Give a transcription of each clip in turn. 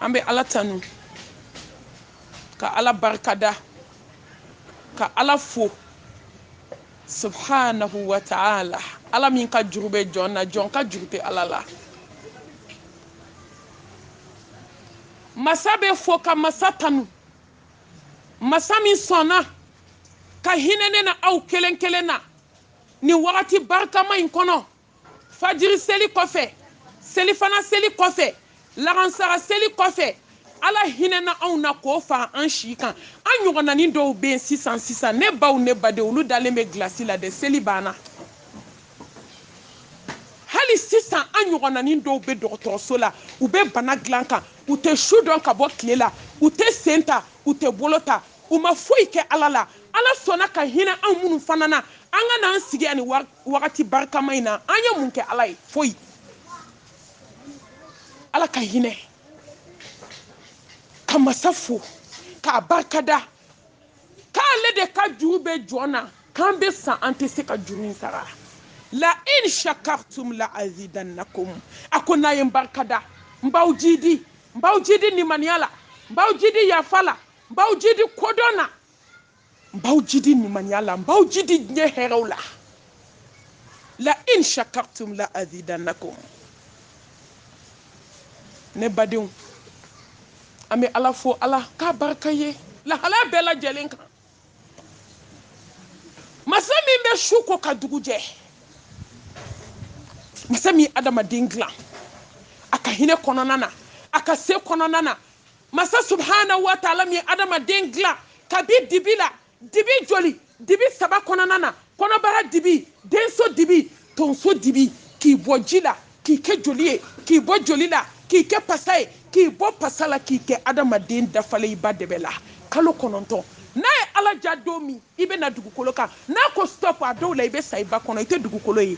an bɛ ala tanu ka ala barikada ka ala fo subhanahu wa ta'ala ala min ka juru bɛ jɔn na jɔn ka juru tɛ ala la masa bɛ fo ka masa tanu masa min sɔnna ka hinɛ ne na aw kelen kelen na nin wagati barikama in kɔnɔ fajiri seli kɔfɛ selifana seli kɔfɛ lagansara seli kɔfɛ ala hinɛna anw na k'o fara an si kan an ɲɔgɔnnanin dɔw bɛ yen sisan sisan ne baw ne baden olu dalen bɛ gilasi la dɛ seli banna hali sisan an ɲɔgɔnnanin dɔw bɛ dɔgɔtɔrɔso la u bɛ bana dilan kan u tɛ su dɔn ka bɔ tile la u tɛ sen ta u tɛ bolo ta u ma foyi kɛ ala la ala sɔnna ka hinɛ anw minnu fana na an ka n'an sigi ani wagati barikama in na an ye mun kɛ ala ye foyi ala ka hinɛ ka masa fo k'a barikada k'ale de ka juru bɛ jɔn na k'an bɛ sa an tɛ se ka juru in sara la in shakartum la azidannakum a ko n'a ye n barikada n b'aw jidi n b'aw jidi nimaniya la n b'aw jidi yafa la n b'aw jidi kodɔn na n b'aw jidi nimaniya la n b'aw jidi diɲɛ hɛrɛw la la in shakartum la azidannakum ne badenw an bɛ ala fo ala ka barika ye lahala bɛɛ lajɛlen kan masa min bɛ su ko ka dugu jɛ masa min ye adamaden dilan a ka hinɛ kɔnɔna na a ka se kɔnɔna na masa subhanahu wa taala min ye adamaden dilan kabi dibi la dibi joli dibi saba kɔnɔna na kɔnɔbara dibi denso dibi tonso dibi k'i bɔ ji la k'i kɛ joli ye k'i bɔ joli la k'i kɛ pasa ye k'i bɔ pasa la k'i kɛ adamaden dafalen i ba debe la kalo kɔnɔntɔn n'a ye ala diya don min i bɛ na dugukolo kan n'a ko stop a dɔw la i bɛ sa i ba kɔnɔ i tɛ dugukolo ye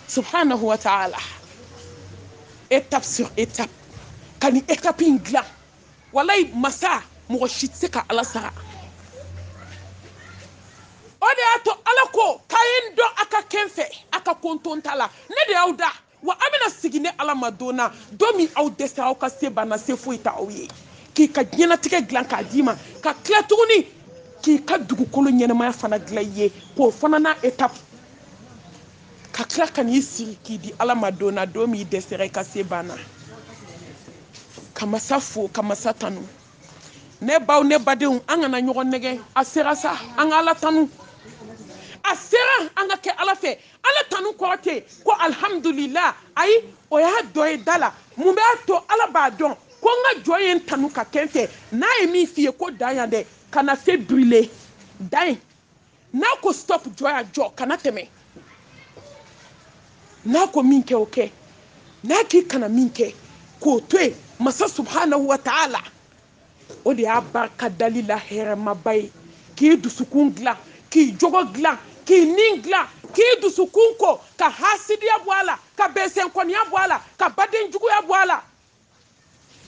subhanahu wa taala étape sur étape ka nin étape in dilan walayi masa mɔgɔ si tɛ se ka ala sara o de y'a to ala ko k'a ye n dɔn a ka kɛ n fɛ a ka konton ta la ne de y'aw da wa a bɛna segin ne ala ma don na don min aw dɛsɛra aw ka se banna se foyi t'aw ye k'i ka diɲɛnatigɛ dilan k'a d'i ma ka tila tuguni k'i ka dugukolo ɲɛnamaya fana dilan i ye k'o fana n'a étape ka tila ka n'i siri k'i di ala ma don na don min i dɛsɛra i ka se banna ka masa fo ka masa tanu ne baw ne badenw an kana ɲɔgɔn nɛgɛn a sera sa an ka ala tanu a sera an ka kɛ ala fɛ ala tanu kɔrɔ tɛ ko alhamdulillah ayi o y'a dɔ ye da la mun b'a to ala b'a dɔn ko n ka jɔn ye n tanu ka kɛ n fɛ n'a ye min f'i ye ko dan yan dɛ kana se brûler dan ye n'a ko stop jɔ yan jɔ kana tɛmɛ n'a ko min kɛ o kɛ n'a k'i kana min kɛ k'o to yen masa subhanahu wa ta'ala o de y'a barika dali la hɛrɛmaba ye k'i dusukun dilan k'i jogo dilan k'i nin dilan k'i dusukun ko ka hasidiya bɔ a la ka bɛnsɛnkɔniya bɔ a la ka baden juguya bɔ a la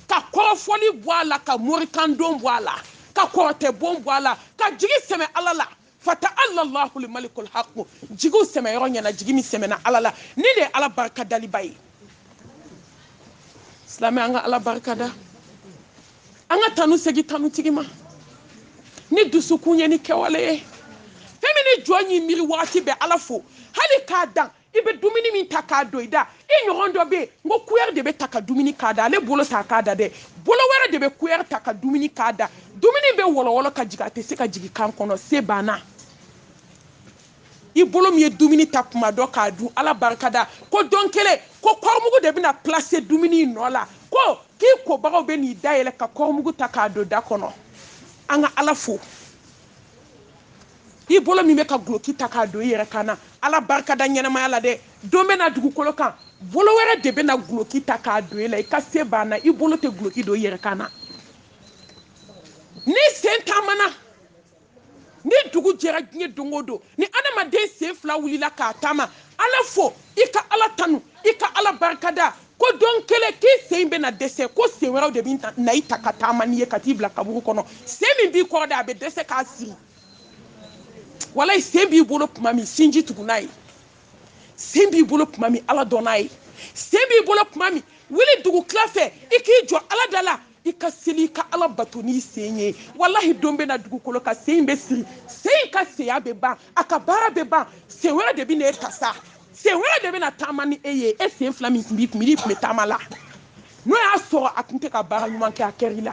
ka kɔrɔfɔli bɔ a la ka morikandon bɔ a la ka kɔrɔtɛbon bɔ a la ka jigi sɛmɛ ala la fata'alallahul malikul haqqu jigiw sɛmɛ yɔrɔ ɲɛna jigi min sɛmɛna ala la nin de ye ala barika daliba ye silamɛ an ka ala barika da an ka tanu segi tanutigi ma ni dusukun ye ni kɛwale ye fɛn min ni jɔn y'i miiri wagati bɛɛ ala fo hali k'a dan i bɛ dumuni min ta k'a don i da i ɲɔgɔn dɔ bɛ yen n ko kuyɛri de bɛ ta ka dumuni k'a da ale bolo t'a k'a da dɛ bolo wɛrɛ de bɛ kuyɛri ta ka dumuni k'a da dumuni bɛ wɔlɔwɔlɔ ka jigin a tɛ se ka jigin kan kɔnɔ se banna i bolo min ye dumuni ta kuma dɔ k'a dun ala barika da ko don kelen ko kɔrɔmugu de bɛna placer dumuni in nɔ la ko k'i kobagaw bɛ n'i dayɛlɛ ka kɔrɔmugu ta k'a don da kɔnɔ an ka ala fo i bolo min bɛ ka guloki ta k'a don i yɛrɛ kan na ala barika da ɲɛnamaya la dɛ don bɛ na dugukolo kan bolo wɛrɛ de bɛ na guloki ta k'a don i la i ka se banna i bolo tɛ guloki don i yɛrɛ kan na ni sen taamana ni dugu jɛra diɲɛ don o don ni adamaden sen fila wulila k'a taama ala fo i ka ala tanu i ka ala barika da ko don kelen k'i sen in bɛna dɛsɛ ko sen wɛrɛw de bɛ na i ta ka taama n'i ye ka t'i bila kaburu kɔnɔ sen min b'i kɔrɔ de a bɛ dɛsɛ k'a siri walayi sen b'i bolo tuma min sinji tugu n'a ye sen b'i bolo tuma min ala dɔn n'a ye sen b'i bolo tuma min wuli dugu tila fɛ i k'i jɔ ala da la i ka seli i ka ala bato n'i sen ye walahi don bɛ na dugukolo kan sen in bɛ siri sen in ka senya bɛ ban a ka baara bɛ ban sen wɛrɛ de bɛ na e ta sa sen wɛrɛ de bɛ na taama ni e ye e sen fila min tun b'i kun i tun bɛ taama la n'o y'a sɔrɔ a tun tɛ ka baara ɲuman kɛ a kɛra i la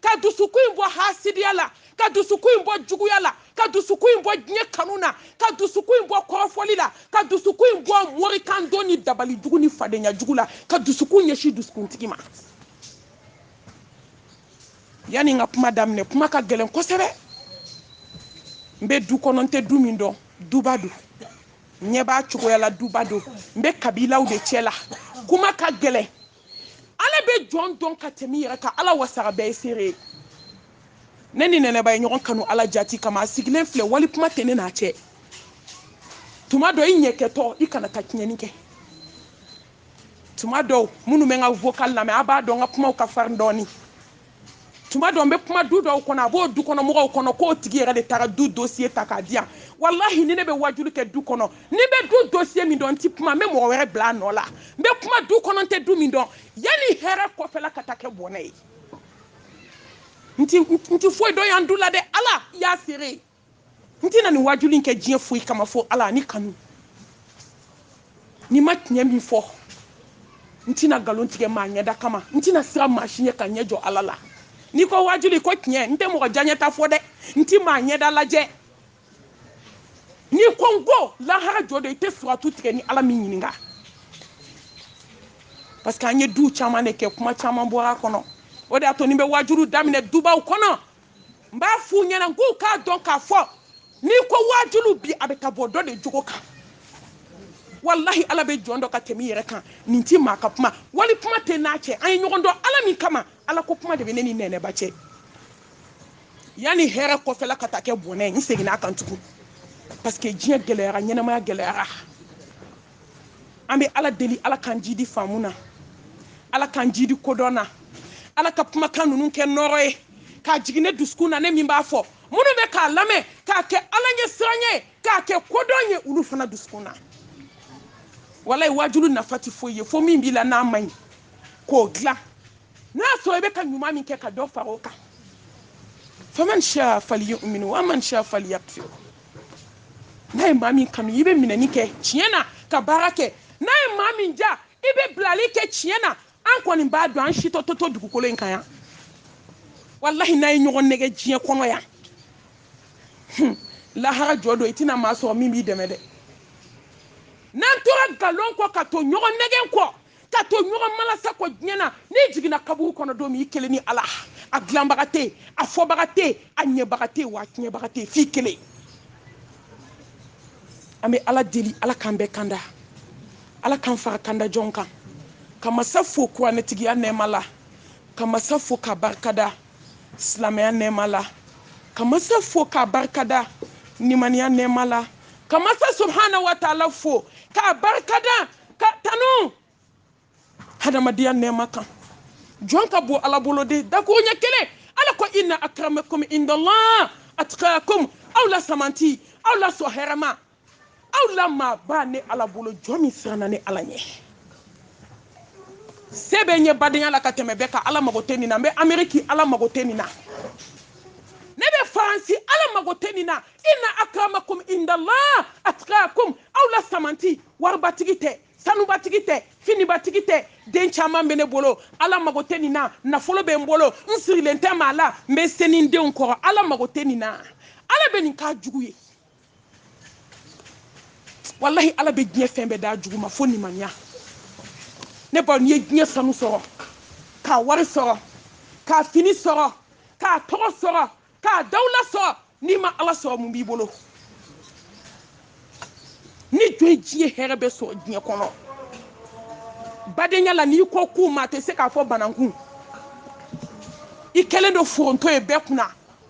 ka dusukun in bɔ hasidiya la ka dusukun in bɔ juguya la ka dusukun in bɔ diɲɛ kanu na ka dusukun in bɔ kɔrɔfɔli la ka dusukun in bɔ morikandon ni dabali jugu ni fadenya jugu la ka dusukun ɲɛsin dusukuntigi ma yanni n ka kuma daminɛ kuma ka gɛlɛn kosɛbɛ n bɛ du kɔnɔ n tɛ du min dɔn duba don n ɲɛ b'a cogoya la duba don n bɛ kabilaw de cɛ la kuma ka gɛlɛn ala bɛ jɔn dɔn ka tɛmɛ i yɛrɛ kan ala wasaga bɛɛ ye seere ye ne ni nɛnɛba ye ɲɔgɔn kanu ala jati kama a sigilen filɛ wali kuma tɛ ne n'a cɛ tuma dɔ i ɲɛ kɛtɔ i kana taa tiɲɛni kɛ tuma dɔw minnu bɛ n ka vocal lamɛn a b'a dɔn n ka kumaw ka farin dɔɔni tuma dɔ n bɛ kuma du dɔw kɔnɔ a b'o du kɔnɔ mɔgɔw kɔnɔ k'o tigi yɛrɛ de taara du dossier ta k'a di yan walahi ni ne bɛ wajuli kɛ du kɔnɔ ni n bɛ du dossier min dɔn n tɛ kuma n bɛ mɔgɔ wɛrɛ bila a nɔ la n bɛ kuma du kɔnɔ n tɛ du min dɔn yanni hɛrɛ kɔfɛla ka taa kɛ bɔnɛ ye n tɛ foyi dɔn yan du la dɛ ala y'a seere ye n tɛna nin wajuli in kɛ diɲɛ foyi kama fo ala ni kanu ni n ma tiɲɛ min fɔ n tɛna nkalon tigɛ maa ɲɛda kama n tɛna siran maa si ɲɛ ka ɲɛ jɔ ala la n'i ko wajuli ko tiɲɛ n tɛ mɔgɔ diyanyeta fɔ dɛ n tɛ maa ɲɛda lajɛ n'i ko n ko lahara jɔ de i tɛ siratu tigɛ ni ala m'i ɲininka parce que an ye duw caman de kɛ kuma caman bɔra a kɔnɔ o de y'a to ni n bɛ wajulu daminɛ dubaw kɔnɔ n b'a f'u ɲɛna n k'u k'a dɔn k'a fɔ n'i ko waajuli bi a bɛ ka bɔ dɔ de jogo kan walahi ala bɛ jɔn dɔn ka tɛmɛ i yɛrɛ kan nin ti maa ka kuma wali kuma tɛ n n'a cɛ an ye ɲɔgɔn dɔn ala min kama ala ko kuma de bɛ ne ni nɛnɛba cɛ yanni hɛrɛ kɔfɛla ka taa kɛ bɔnɛ n seginna a kan tugun parce que diɲɛ gɛlɛyara ɲɛnamaya gɛlɛyara an bɛ ala deli ala k'an jidi faamu na ala k'an jidi kodɔn na ala ka kumakan ninnu kɛ nɔrɔ ye k'a jigin ne dusukun na ne min b'a fɔ minnu bɛ k'a lamɛn k'a kɛ ala ɲɛsiran ye k'a kɛ kodɔn ye olu fana dusukun na walayi wajulu nafa tɛ foyi ye fo min b'i la n'a man ɲi k'o dilan n'a sɔrɔ i bɛ ka ɲuman min kɛ ka dɔ fara o kan faman sha falyumin wa man sha falyakfur n'a ye maa min kanu i bɛ minɛni kɛ tiɲɛ na ka baara kɛ n'a ye maa min ja i bɛ bilali kɛ tiɲɛ na an kɔni b'a dɔn an si tɛ to to dugukolo in kan yan walahi n'a ye ɲɔgɔn nɛgɛn diɲɛ kɔnɔ yan lahara jɔ don i tɛna maa sɔrɔ min b'i dɛmɛ dɛ n'an tora nkalon kɔ ka to ɲɔgɔn nɛgɛn kɔ ka to ɲɔgɔn malasa kɔ diɲɛ na n'i jiginna kaburu kɔnɔ don min i kelen ni ala a dilanbaga tɛ a fɔbaga tɛ a ɲɛbaga tɛ wa a tiɲɛbaga tɛ f'i kelen an bɛ ala deli ala k'an bɛɛ kanda ala k'an fara kanda jɔn kan ka masa fo kuranɛtigiya nɛɛma la ka masa fo k'a barikada silamɛya nɛɛma la ka masa fo k'a barikada nimaniya nɛɛma la ka masa subhana wa taala fo k'a barikada ka tanu hadamadenya nɛɛma kan jɔn ka bon ala bolo de dakuruɲɛ kelen ala ko inna akramakum indallah atqakum aw la samanti aw la sɔ hɛrɛma aw la maaba ne ala bolo jɔn min siranna ne ala ɲɛ sɛbɛ ɲɛ badenya la ka tɛmɛ bɛɛ kan ala mago tɛ nin na n bɛ ameriki ala mago tɛ nin na ne bɛ faransi ala mago tɛ nin na inna akramakum indallah atqakum aw la samanti waribatigi tɛ sanubatigi tɛ finibatigi tɛ den caman bɛ ne bolo ala mago tɛ nin na nafolo bɛ n bolo n sirilen tɛ maa la n bɛ se ni n denw kɔrɔ ala mago tɛ nin na ala bɛ nin k'a jugu ye walahi ala bɛ diɲɛ fɛn bɛɛ d'a jugu ma fo nimaniya ne baw n'i ye diɲɛ sanu sɔrɔ k'a wari sɔrɔ k'a fini sɔrɔ k'a tɔgɔ sɔrɔ k'a dawula sɔrɔ n'i ma ala sɔrɔ mun b'i bolo ni jɔn ye diɲɛ hɛrɛ bɛɛ sɔrɔ diɲɛ kɔnɔ badenya la n'i kɔ kuma tɛ se ka fɔ banankun i kɛlen don foronto ye bɛɛ kunna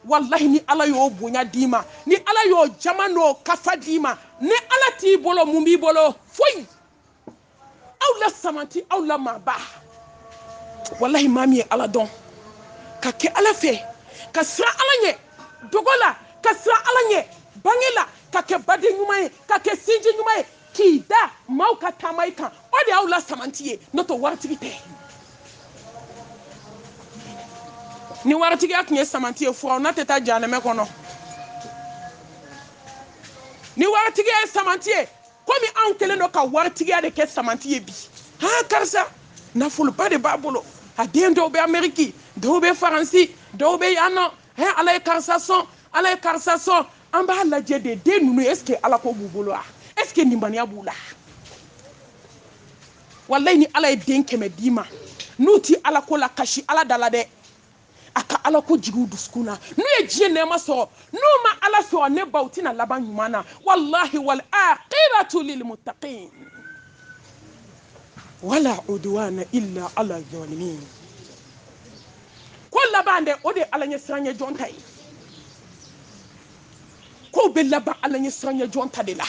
walahi ni ala y'o bonya d'i ma ni ala y'o jama n'o kafo d'i ma ni ala t'i bolo mun b'i bolo foyi aw la samanti aw la maaba walahi maa min ye ala dɔn ka kɛ ala fɛ ka siran ala ɲɛ dogo la ka siran ala ɲɛ bange la ka kɛ baden ɲuman ye ka kɛ sinji ɲuman ye k'i da maaw ka taama i kan o de y'aw la samanti ye n'o tɛ waritigi tɛ ni waritigiya tun ye samanti ye firawuna tɛ taa jahanamɛ kɔnɔ ni waritigiya ye samanti ye komi anw kɛlen don ka waritigiya de kɛ samanti ye bi ha karisa nafoloba de b'a bolo a den dɔw bɛ ameriki dɔw bɛ faransi dɔw bɛ yan nɔ he ala ye karisa sɔn ala ye karisa sɔn an b'a lajɛ dɛ den ninnu est ce que ala ko b'u bolo wa est ce que ninbaniya b'u la walayi ni ala ye den kɛmɛ d'i ma n'u ti ala ko la kasi ala da la dɛ a ka ala ko jigi u dusukun na n'u ye diɲɛ nɛɛma sɔrɔ n'u ma ala sɔrɔ ne baw tɛna laban ɲuman na walahi wal aqibatu lil muttaqin wala udwana illa ala zalimin ko laban dɛ o de ye ala ɲɛ siranyɛ jɔn ta ye kow bɛ laban ala ɲɛ siranyɛ jɔn ta de la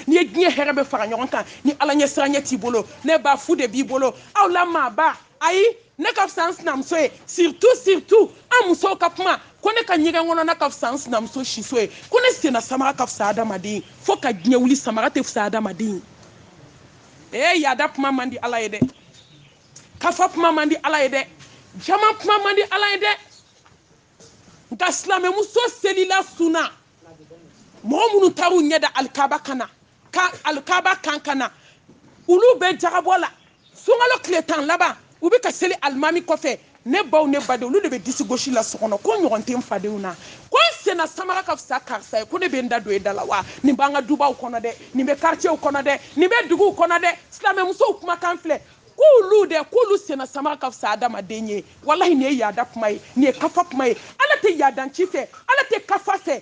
n'i ye diɲɛ hɛrɛ bɛɛ fara ɲɔgɔn kan ni ala ɲɛ siranyɛ t'i bolo ne ba fu de b'i bolo aw la maaba ayi ne ka fisa n sinamuso ye surtout surtout an musow ka kuma ko ne ka ɲɛgɛn kɔnɔna ka fisa n sinamuso siso ye ko ne senna samara ka fisa adamaden ye fo ka diɲɛ wuli samara tɛ fisa adamaden ye yaada kuma man di ala ye dɛ kafa kuma man di ala ye dɛ jama kuma man di ala ye dɛ nka silamɛmuso selila sunna mɔgɔ minnu taar'u ɲɛ da alikaba kana ka alikaba kan ka na olu bɛ jagabɔ la sunkalo tile tan laban u bɛ ka seli alimami kɔfɛ ne baw ne baden olu de bɛ disi gosi la so kɔnɔ ko ɲɔgɔn tɛ n fadenw na ko n senna samara ka fisa karisa ye ko ne bɛ n da don e da la wa nin b'an ka dubaw kɔnɔ dɛ nin bɛ karicɛw kɔnɔ dɛ nin bɛ duguw kɔnɔ dɛ silamɛmusow kumakan filɛ k'olu dɛ k'olu senna samara ka fisa adamaden ye walahi nin ye yaada kuma ye nin ye kafa kuma ye ala tɛ yaadanci fɛ ala tɛ kafa fɛ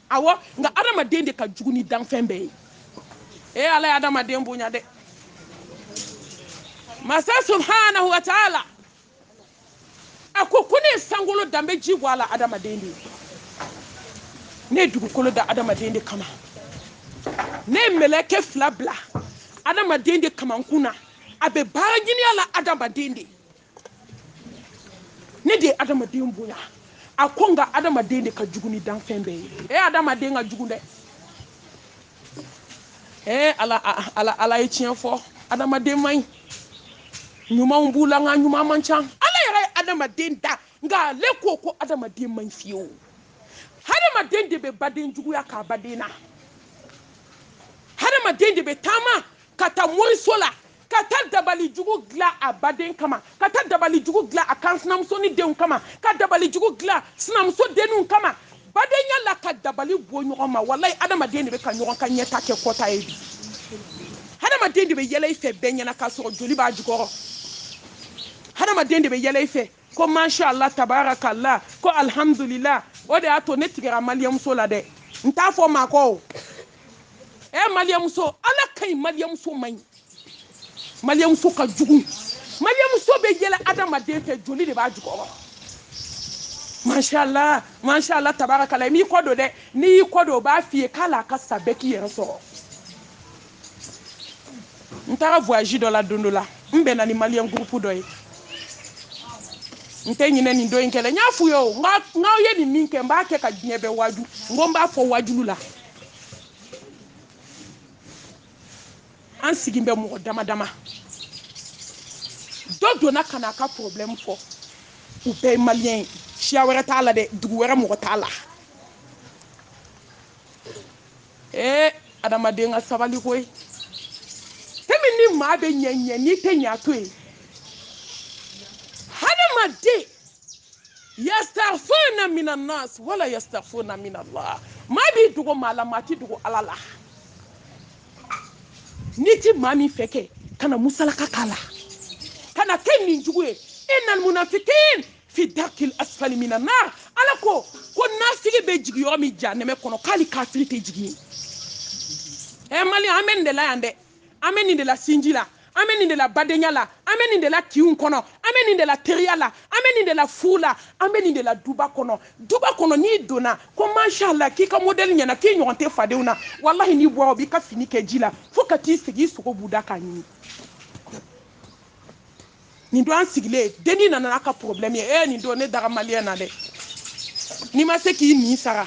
awɔ nka adamaden de ka jugu ni danfɛn bɛɛ ye ee ala ye adamaden bonya dɛ masa subhanahu wa taala a ko ko ne ye sankolo da n bɛ ji bɔ a la adamaden de ye ne ye dugukolo da adamaden de kama ne ye mɛlɛkɛ fila bila adamaden de kamankun na a bɛ baara ɲini a la adamaden de ye ne de ye adamaden bonya a ko nka adamaden de ka jugu ni danfɛn bɛɛ ye e adamaden ka jugu dɛ ee ala ala ala ye tiɲɛ fɔ adamaden man ɲi ɲumanw b'u la nka ɲuman man ca ala yɛrɛ ye adamaden da nka ale ko ko adamaden man ɲi fiyewu hadamaden de bɛ baden juguya k'a baden na hadamaden de bɛ taama ka taa moriso la ka taa dabali jugu dilan a baden kama ka taa dabali jugu dilan a kansinamusonin denw kama ka dabali jugu dilan sinamuso denninw kama badenya la ka dabali bɔ ɲɔgɔn ma walayi adamaden de bɛ ka ɲɔgɔn ka ɲɛtaa kɛ kɔtaa ye bi hadamaden de bɛ yɛlɛ i fɛ bɛɛ ɲɛna k'a sɔrɔ joli b'a jukɔrɔ hadamaden de bɛ yɛlɛ i fɛ ko masha allah tabarakallah ko alhamdulillah o de y'a to ne tigɛra maliyɛmuso la dɛ n t'a fɔ maa kɔ o ɛ eh, maliyɛmuso ala ka ɲi maliyɛmuso man ɲi maliyɛmuso ka jugu maliyɛmuso bɛ yɛlɛ adamaden fɛ joli de b'a jukɔrɔ mashala mashala tabarakala n'i kɔ don dɛ n'i y'i kɔ don o b'a f'i ye k'ala ka sa bɛɛ k'i yɛrɛ sɔrɔ n taara voyage dɔ la don dɔ la n bɛnna ni maliyɛn groupe dɔ ye n tɛ ɲinɛ nin don in kɛlɛ n y'a f'u ye o n k'aw ye nin min kɛ n b'a kɛ ka diɲɛ bɛɛ waaju n ko n b'a fɔ waajulu la an sigin bɛ mɔgɔ dama dama dɔ donna ka na a ka problème fɔ u bɛɛ ye maliyɛn ye siya wɛrɛ t'a la dɛ dugu wɛrɛ mɔgɔ t'a la ee adamaden ka sabali koyi tɛmi ni maa bɛ ɲɛ ɲɛ n'i tɛ ɲɛ a to yen hadamaden yastakhfuna minan nas wala yastakhfuna minallah maa b'i dogo maa la maa t'i dogo ala la n'i ti maa min fɛ kɛ kana musalaka k'a la kana kɛ ni jugu ye innal munafikin fi darkil asfali minan nar ala ko ko nafigi bɛ jigi yɔrɔ min jahanɛmɛ kɔnɔ k'ali kafiri tɛ jigi yen ɛ eh, mali an bɛ nin de la yan dɛ an bɛ nin de la sinji la an bɛ nin de la badenya la an bɛ nin de la kinw kɔnɔ an bɛ nin de la teriya la an bɛ nin de la furu la an bɛ nin de la duba kɔnɔ duba kɔnɔ n'i donna ko mashala k'i ka modèle ɲɛna k'i ɲɔgɔn tɛ fadenw na walahi n'i bɔra o b'i ka fini kɛ ji la fo ka t'i sigi i sogo b'u da k'a ɲimi nin don an sigilen denni nana n'a ka problème ye ee nin don ne dara maliyɛn na dɛ n'i ma se k'i nin sara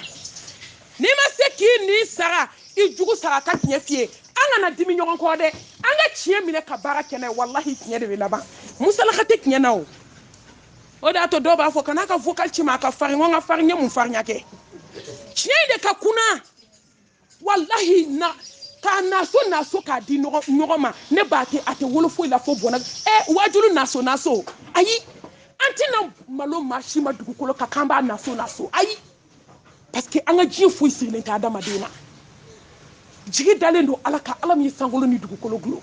n'i ma se k'i nin sara i jugu sara ka tiɲɛ f'i ye an kana dimi ɲɔgɔn kɔrɔ dɛ an ka tiɲɛ minɛ ka baara kɛ n'a ye walahi tiɲɛ de bɛ laban musalaka tɛ tiɲɛ na o o de y'a to dɔw b'a fɔ kana ka vocal ci ma a ka farin ko n ka farin n ye mun farinya kɛ tiɲɛ in de ka kunna walahi na k'a naso naso k'a di ɲɔgɔn ma ne b'a tɛ a tɛ wolo foyi la fo bɔnɛ ɛ wajulu naso naso ayi an tɛna malo maa si ma dugukolo kan k'an b'a naso naso ayi parce que an ka diɲɛ foyi sigilen tɛ adamaden na jigi dalen don ala kan ala min ye sankolo ni dugukolo dulon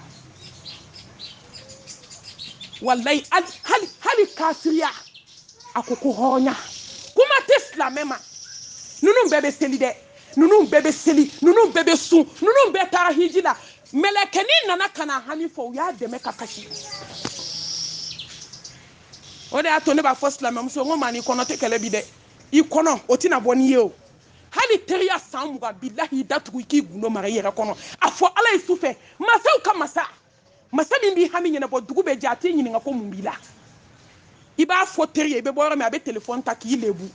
walahi hali hali kafiriya a ko ko hɔrɔnya kuma tɛ silamɛ ma ninnu bɛɛ bɛ seli dɛ ninnu bɛɛ bɛ seli ninnu bɛɛ bɛ sun ninnu bɛɛ taara hiji la mɛlɛkɛnin nana ka n'a hami fɔ u y'a dɛmɛ ka kasi o de y'a to ne b'a fɔ silamɛmuso n ko maa n'i kɔnɔ tɛ kɛlɛ bi dɛ i kɔnɔ o tɛna bɔ n'i ye o hali teriya san mugan bilahi i da tugu i k'i gundo mara i yɛrɛ kɔnɔ a fɔ ala ye su fɛ masaw ka masa masa min b'i hami ɲɛnabɔ dugu bɛ jɛ a t'i ɲininka ko mun b'i la i b'a fɔ teri ye i bɛ bɔ yɔrɔ min a bɛ telefɔni ta k'i lebu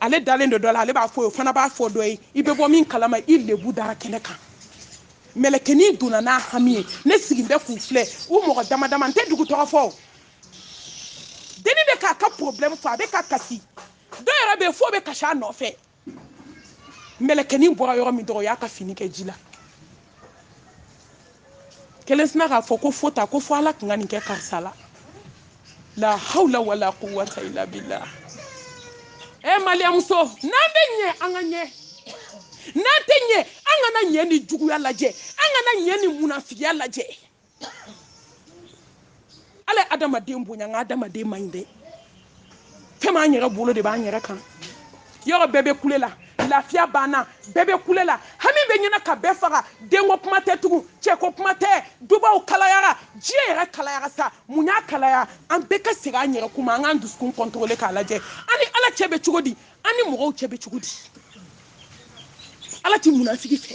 ale dalen don dɔ la ale b'a f'o ye o fana b'a fɔ dɔ ye i bɛ bɔ min kalama i lebu dara kɛnɛ kan mɛlɛkɛnin donna n'a hami ye ne sigin bɛ k'u filɛ u mɔgɔ dama dama n tɛ dugu tɔgɔ fɔ o denni bɛ k'a ka problème fɔ a bɛ ka kasi dɔ yɛrɛ bɛ yen f'o bɛ kasi a nɔfɛ mɛlɛkɛnin bɔra yɔrɔ min dɔrɔn o y'a ka fini kɛ ji la kelen sina k'a fɔ ko fo ta ko fo ala tun ka nin kɛ karisa la la hawla wala quwwata illa billah e eh, maliyɛnmuso n'an bɛ ɲɛ an ka ɲɛ n'an tɛ ɲɛ an kana ɲɛ ni juguya lajɛ an kana ɲɛ ni munafigiya lajɛ ala ye adamaden bonya nka adamaden man ɲi dɛ fɛn m'an yɛrɛ bolo de b'an yɛrɛ kan yɔrɔ bɛɛ bɛ kule la lafiya banna bɛɛ bɛ kule la hami bɛ ɲini ka bɛɛ faga denko kuma tɛ tugun cɛko kuma tɛ dubaw kalayara diɲɛ yɛrɛ kalayara sa mun y'a kalaya an bɛɛ ka segin an yɛrɛ kuma an k'an dusukun kɔntɔrɔle k'a lajɛ an ni ala cɛ bɛ cogo di an ni mɔgɔw cɛ bɛ cogo di ala ti munafigi fɛ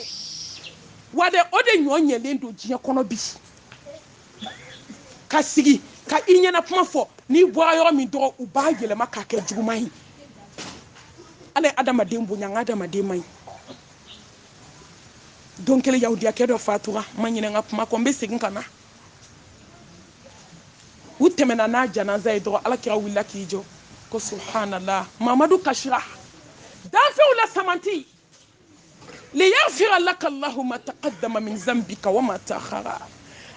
wa dɛ o de ɲɔ ɲɛlen don diɲɛ kɔnɔ bi ka sigi ka i ɲɛna kuma fɔ n'i bɔra yɔrɔ min dɔrɔn u b'a yɛlɛma k'a kɛ juguman ye ala ye adamaden bonya nka adamaden man ɲi don kelen yahudiyakɛ dɔ fatura n ma ɲinɛ n ka kuma kɔ n bɛ segin ka na u tɛmɛna n'a janaza ye dɔrɔn ala kira wulila k'i jɔ ko subhanallah mamadu kasira danfɛnw la samanti liyaghfira laka allahu ma taqaddama min zambika wa ma ta'akhara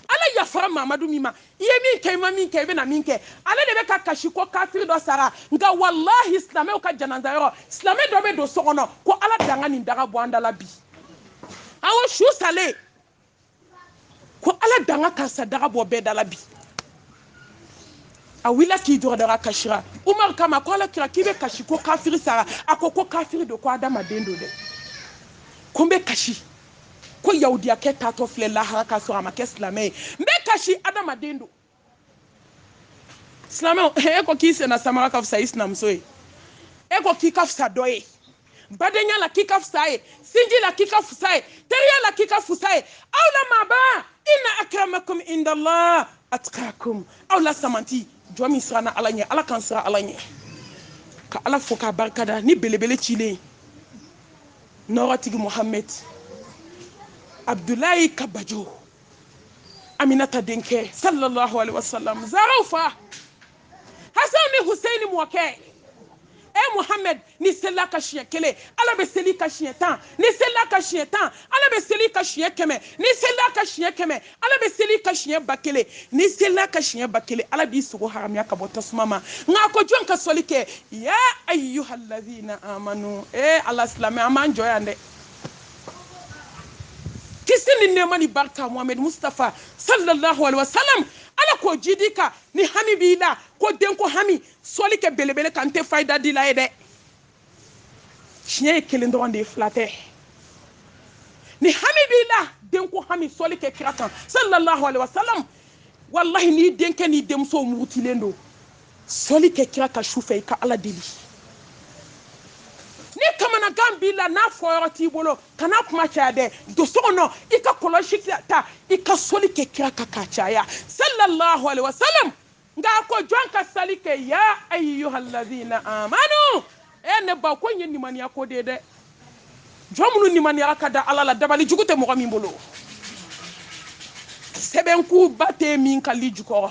ala yafara mamadu min ma i ye min kɛ i ma min kɛ i bɛna min kɛ ale de bɛ ka kasi ko kafiri dɔ sara nka walahi silamɛw ka janaza yɔrɔ silamɛ dɔ bɛ don so kɔnɔ ko ala danga nin daga bɔ an da la bi awo su salen ko ala danga karisa daga bɔ bɛɛ da la bi a wulila k'i jɔ dɔrɔn a kasira umaru k'a ma ko ala kira k'i bɛ kasi ko kafiri sara a ko ko kafiri don ko adamaden don dɛ ko n bɛ kasi ko yahudiyakɛ taatɔ filɛ lahara k'a sɔrɔ a ma kɛ silamɛ ye n bɛ kasi adamaden don silamɛw e ko k'i senna samara ka fisa i sinamuso ye e ko k'i ka fisa dɔ ye badenya la k'i ka fisa ye sinji la k'i ka fisa ye teriya la k'i ka fisa ye aw la maaba inna akramakum indallah atqakum aw la samanti jɔn min siranna ala ɲɛ ala k'an siran ala ɲɛ ka ala fo k'a barikada ni belebele cilen nɔɔrɔtigi mohamɛd abdulayi kabajo aminata denkɛ sallallahu alaihi wasallam zaraw fa hasan ni huseini mɔkɛ e muhamɛd n'i selila a kan siɲɛ kelen ala bɛ seli i kan siɲɛ tan n'i selila a kan siɲɛ tan ala bɛ seli i kan siɲɛ kɛmɛ n'i selila a kan siɲɛ kɛmɛ ala bɛ seli i kan siɲɛ ba kelen n'i selila a kan siɲɛ ba kelen ala b'i sogo haramiya ka bɔ tasuma ma nka ko jɔn ka sɔli kɛ ya ayyuhallazina amanu e ala silamɛ an b'an jɔ yan dɛ kisi ni nɛɛma ni barika muhamɛdi mustafa sallallahu alaihi wasallam ala k'o jidi ka ni hami b'i la ko denko hami sɔli kɛ belebele kan n tɛ fayida dila ye dɛ tiɲɛ ye kelen dɔrɔn de ye fila tɛ ni hami b'i la denko hami sɔli kɛ kira kan sallallahu alaihi wasallam walahi n'i denkɛ n'i denmuso murutilen don sɔli kɛ kira kan su fɛ i ka ala deli ni kamanagan b'i la n'a fɔyɔrɔ t'i bolo kana kuma caya dɛ don so kɔnɔ i ka kɔlɔsi ta i ka sɔli kɛ kira kan k'a caya sallallahu alaihi wasallam nka a ko jɔn ka sali kɛ ya ayyuhallazina amanu e ne ba ko in ye nimaniya ko de ye dɛ jɔn minnu nimaniyara ka da ala la dabali jugu tɛ mɔgɔ min bolo sɛbɛn kunba tɛ min ka li jukɔrɔ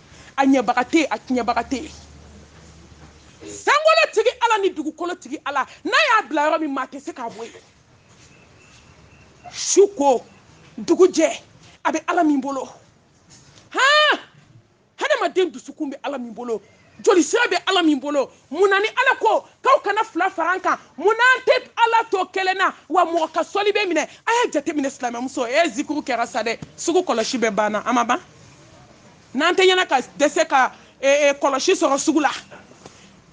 a ɲɛbaga tɛ a tiɲɛbaga tɛ sankolo tigi ala ni dugukolo tigi ala n'a y'a bila yɔrɔ min maa tɛ se k'a bɔ yen su ko dugu jɛ a bɛ ala min bolo han hadamaden dusukun bɛ ala min bolo joli sira bɛ ala min bolo mun na ni ala ko k'aw kana fila fara n kan mun na an tɛ ala to kelen na wa mɔgɔ ka sɔli bɛ minɛ a y'a jateminɛ silamɛmuso e zikuru kɛra sa dɛ sugu kɔlɔsi bɛɛ banna a ma ban n'an tɛ ɲɛna ka dɛsɛ ka eh, eh, kɔlɔsi sɔrɔ sugu la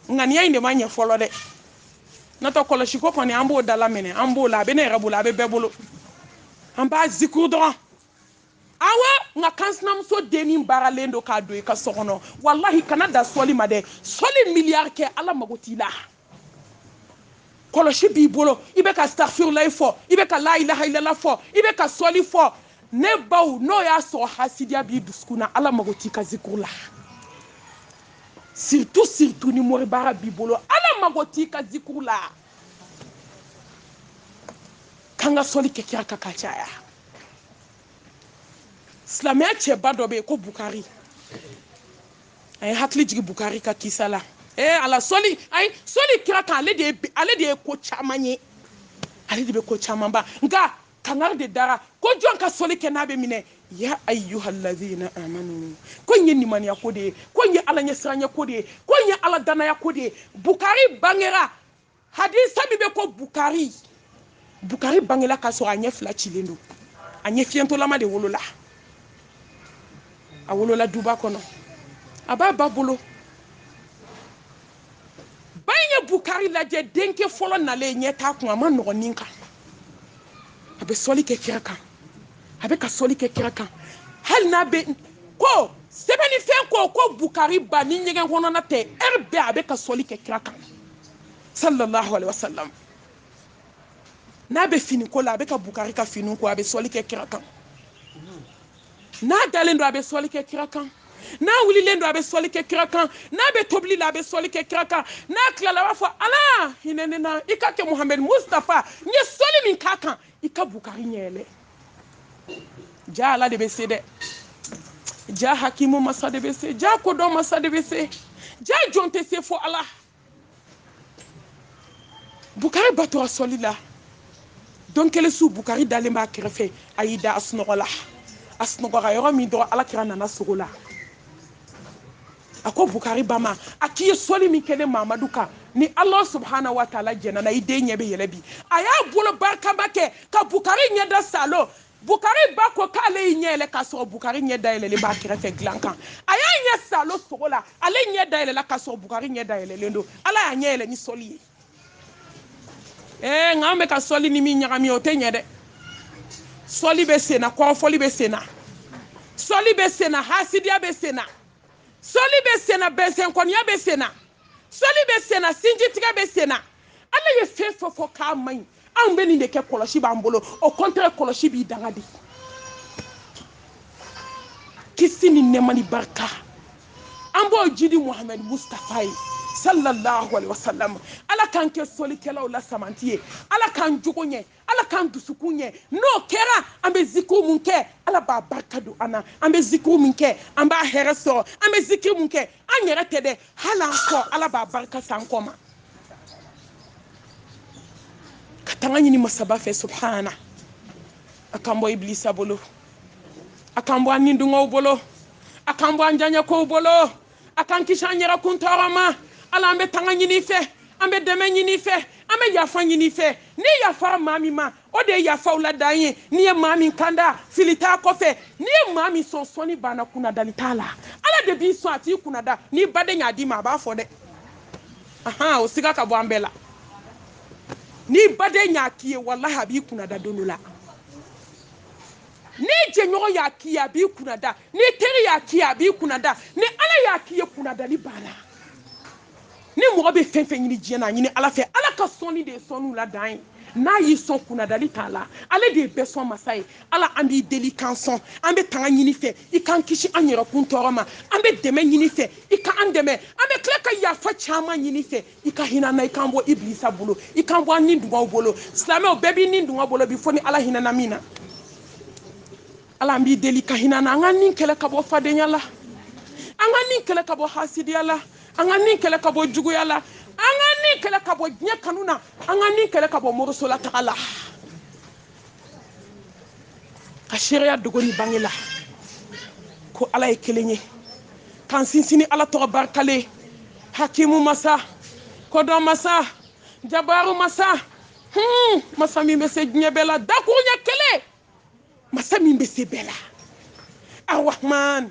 ŋaniya in de ma ɲɛ fɔlɔ dɛ n'o tɛ kɔlɔsiko kɔni an b'o dala minɛ an b'o la a bɛ ne yɛrɛ bolo a bɛ bɛɛ bolo an b'a zikuru dɔrɔn awa nka k'an sinamuso dennin baaralen don k'a don i ka so kɔnɔ walahi kana da sɔli ma dɛ sɔli miliyari kɛ ala mago t'i la kɔlɔsi b'i bolo i bɛ ka safirulayi fɔ i bɛ ka layilahailala fɔ i bɛ ka sɔli fɔ ne baw n'o y'a sɔrɔ hasidiya b'i dusukun na ala mago t'i ka zikuru la surtout surtout ni moribaara b'i bolo ala mago t'i ka zikuru la k'an ka sɔli kɛ kira kan k'a caya silamɛya cɛba dɔ bɛ yen ko bukari a ye hakili jigin bukari ka kisa la ee ala sɔli ayi sɔli kira kan ale de ye ale de ye ko caman ye ale de bɛ ko caman ban nka kangari de dara ko jɔn ka sɔli kɛ n'a bɛ minɛ ya ayyuhallazina amanu ko in ye nimaniya ko de ye ko in ye ala ɲɛsiranya ko de ye ko in ye ala danaya ko de ye bukari bangera hadisa min bɛ ko bukari bukari bangela k'a sɔrɔ a ɲɛ fila cilen don a ɲɛ fiyentɔlama de wolola a wolola duba kɔnɔ a b'a ba bolo ba in ye bukari lajɛ denkɛ fɔlɔ nalen ɲɛ t'a kun a ma nɔgɔn nin kan a bɛ sɔli kɛ kira kan a bɛ ka sɔli kɛ kira kan hali n'a bɛ ko sɛbɛnnifɛn ko ko bukari ba ni ɲɛgɛn kɔnɔna tɛ ɛri bɛɛ a bɛ ka sɔli kɛ kira kan sallallahu alaihi wasallam n'a bɛ fini ko la a bɛ ka bukari ka finiw ko a bɛ sɔli kɛ kira kan n'a dalen don a bɛ sɔli kɛ kira kan n'a wulilen don a bɛ sɔli kɛ kira kan n'a bɛ tobili la a bɛ sɔli kɛ kira kan n'a tilala a b'a fɔ ala hinɛ ne na i ka kɛ muhamadu mustafa n ye sɔli min k'a kan i ka bukari ɲɛ yɛlɛ ja ala de bɛ se dɛ ja hakimu masa de bɛ se ja kodɔn masa de bɛ se ja jɔn tɛ se fo ala bukari ba tora sɔli la don kelen su bukari dalen b'a kɛrɛfɛ a y'i da a sunɔgɔla a sunɔgɔra yɔrɔ min dɔrɔn alakira nana sogo la a ko bukari ba ma a k'i ye sɔli min kɛ ne mamadu kan ni ala subahana wa taala jɛnn'a na i den ɲɛ bɛ yɛlɛ bi a y'a bolo barikama kɛ ka bukari ɲɛda saalo Bukari ba ko k'ale y'i ɲɛ yɛlɛ k'a sɔrɔ Bukari ɲɛ dayɛlɛlen b'a kɛrɛfɛ dilan kan. A y'a ɲɛ saalo sogo la, ale ɲɛ dayɛlɛla k'a sɔrɔ Bukari ɲɛ dayɛlɛlen don. Ala y'a ɲɛ yɛlɛ ni sɔli ye. Ee, nka an bɛ ka sɔli ni min ɲagami o tɛ ɲɛ dɛ. Sɔli bɛ sen na, kɔrɔfɔli bɛ sen na, sɔli bɛ sen na, hasidiya bɛ sen na, sɔli bɛ sen na, bɛnsɛnkɔniya bɛ sen na. sɔli bɛ sen na sinjitigɛ bɛ sen na ala ye fɛn fɛn fɔ k'a man ɲi anw bɛ nin de kɛ kɔlɔsi b'an bolo o kɔntɛrɛ kɔlɔsi b'i danga di kisi ni nɛɛma ni barika an b'o jidi muhamɛdi mustafa ye sallallahu alaihi wasallam ala k'an kɛ sɔlikɛlaw la samanti ye ala k'an jogo ɲɛ ala k'an dusukun ɲɛ n'o kɛra an bɛ zikiri mun kɛ ala b'a barika don an na an bɛ zikiri mun kɛ an b'a hɛrɛ sɔrɔ an bɛ zikiri mun kɛ an yɛrɛ tɛ dɛ hali an kɔ ala b'a barika s'an kɔ ma ka tanga ɲini masaba fɛ subahana a k'an bɔ ibilisa bolo a k'an bɔ an nidungɔw bolo a k'an bɔ an diyanyekow bolo a k'an kisi an yɛrɛ kun tɔɔrɔ ma ala an bɛ tanga ɲin'i fɛ an bɛ dɛmɛ ɲin'i fɛ an bɛ yafa ɲin'i fɛ n'i yafara maa min ma o de ye yafaw la dan ye n'i ye maa min kanda fili t'a kɔfɛ n'i ye maa min sɔn sɔnni banna kunnadali t'a la ala de b'i sɔn a t'i kunnada n'i baden y'a d'i ma a b'a fɔ dɛ ahan o siga ka bɔ an bɛɛ la n'i baden y'a k'i ye walahi a b'i kunnada don dɔ la n'i jɛɲɔgɔn y'a k'i ye a b'i kunnada n'i teri y'a k'i ye a b'i kunnada ni ala y'a k'i ye kunnadali banna ni mɔgɔ bɛ fɛn fɛn ɲini diɲɛ na a ɲini ala fɛ ala ka sɔnni de ye sɔnniw la dan ye n'a y'i sɔn kunnadali t'a la ale de ye bɛɛ sɔn masa ye ala an b'i deli k'an sɔn an bɛ tanga ɲin'i fɛ i k'an kisi an yɛrɛkun tɔɔrɔ ma an bɛ dɛmɛ ɲin'i fɛ i ka an dɛmɛ an bɛ tila ka yafa caman ɲin'i fɛ i ka hinɛ an na i k'an bɔ ibilisa bolo i k'an bɔ an ni dungɔw bolo silamɛw bɛɛ b'i ni dungɔ bolo bi fo ni ala hinɛna min na ala an b'i deli i ka hinɛ an na an ka ni kɛlɛ ka bɔ fadenya la an ka ni kɛlɛ ka bɔ hasidiya la an ka ni kɛlɛ ka bɔ juguya la an ka ni kɛlɛ ka bɔ diɲɛ kanu na an ka ni kɛlɛ ka bɔ morisolataga la ka seereya dogo ni bange la ko ala ye kelen ye k'an sinsin ni ala tɔgɔ barikalen hakimu masa kodɔn masa jabaru masa hmm, masa min bɛ se diɲɛ bɛɛ la dakuruɲɛ kelen masa min bɛ se bɛɛ la arahman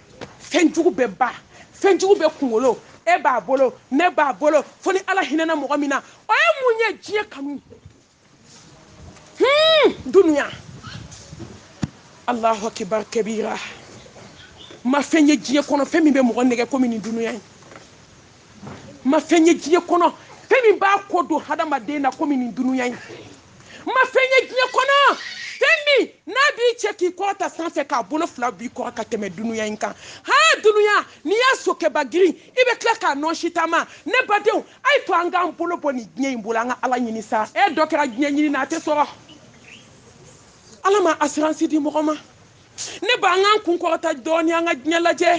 fɛnjugu bɛɛ ba fɛnjugu bɛɛ kunkolo e b'a bolo ne b'a bolo fo ni ala hinɛna mɔgɔ min na o ye mun ye diɲɛ kanu hmm, dunuya alahu akibar kabira n ma fɛn ye diɲɛ kɔnɔ fɛn min bɛ mɔgɔ nɛgɛn komi nin dunuya in n ma fɛn ye diɲɛ kɔnɔ fɛn min b'a kɔ don hadamaden na komi nin dunuya in n ma fɛn ye diɲɛ kɔnɔ fɛn min n'a b'i cɛ k'i kɔrɔta sanfɛ k'a bolo fila b'i kɔrɔ ka tɛmɛ dunuya in kan ha dunuya n'i y'a sokɛba girin i bɛ tila k'a nɔɔsi taama ne badenw a ye to an k'an bolo bɔ nin diɲɛ in bolo an ka ala ɲini sa e dɔ kɛra diɲɛ ɲini na a tɛ sɔrɔ ala ma asiransi di mɔgɔ ma ne ba an k'an kun kɔrɔta dɔɔni an ka diɲɛ lajɛ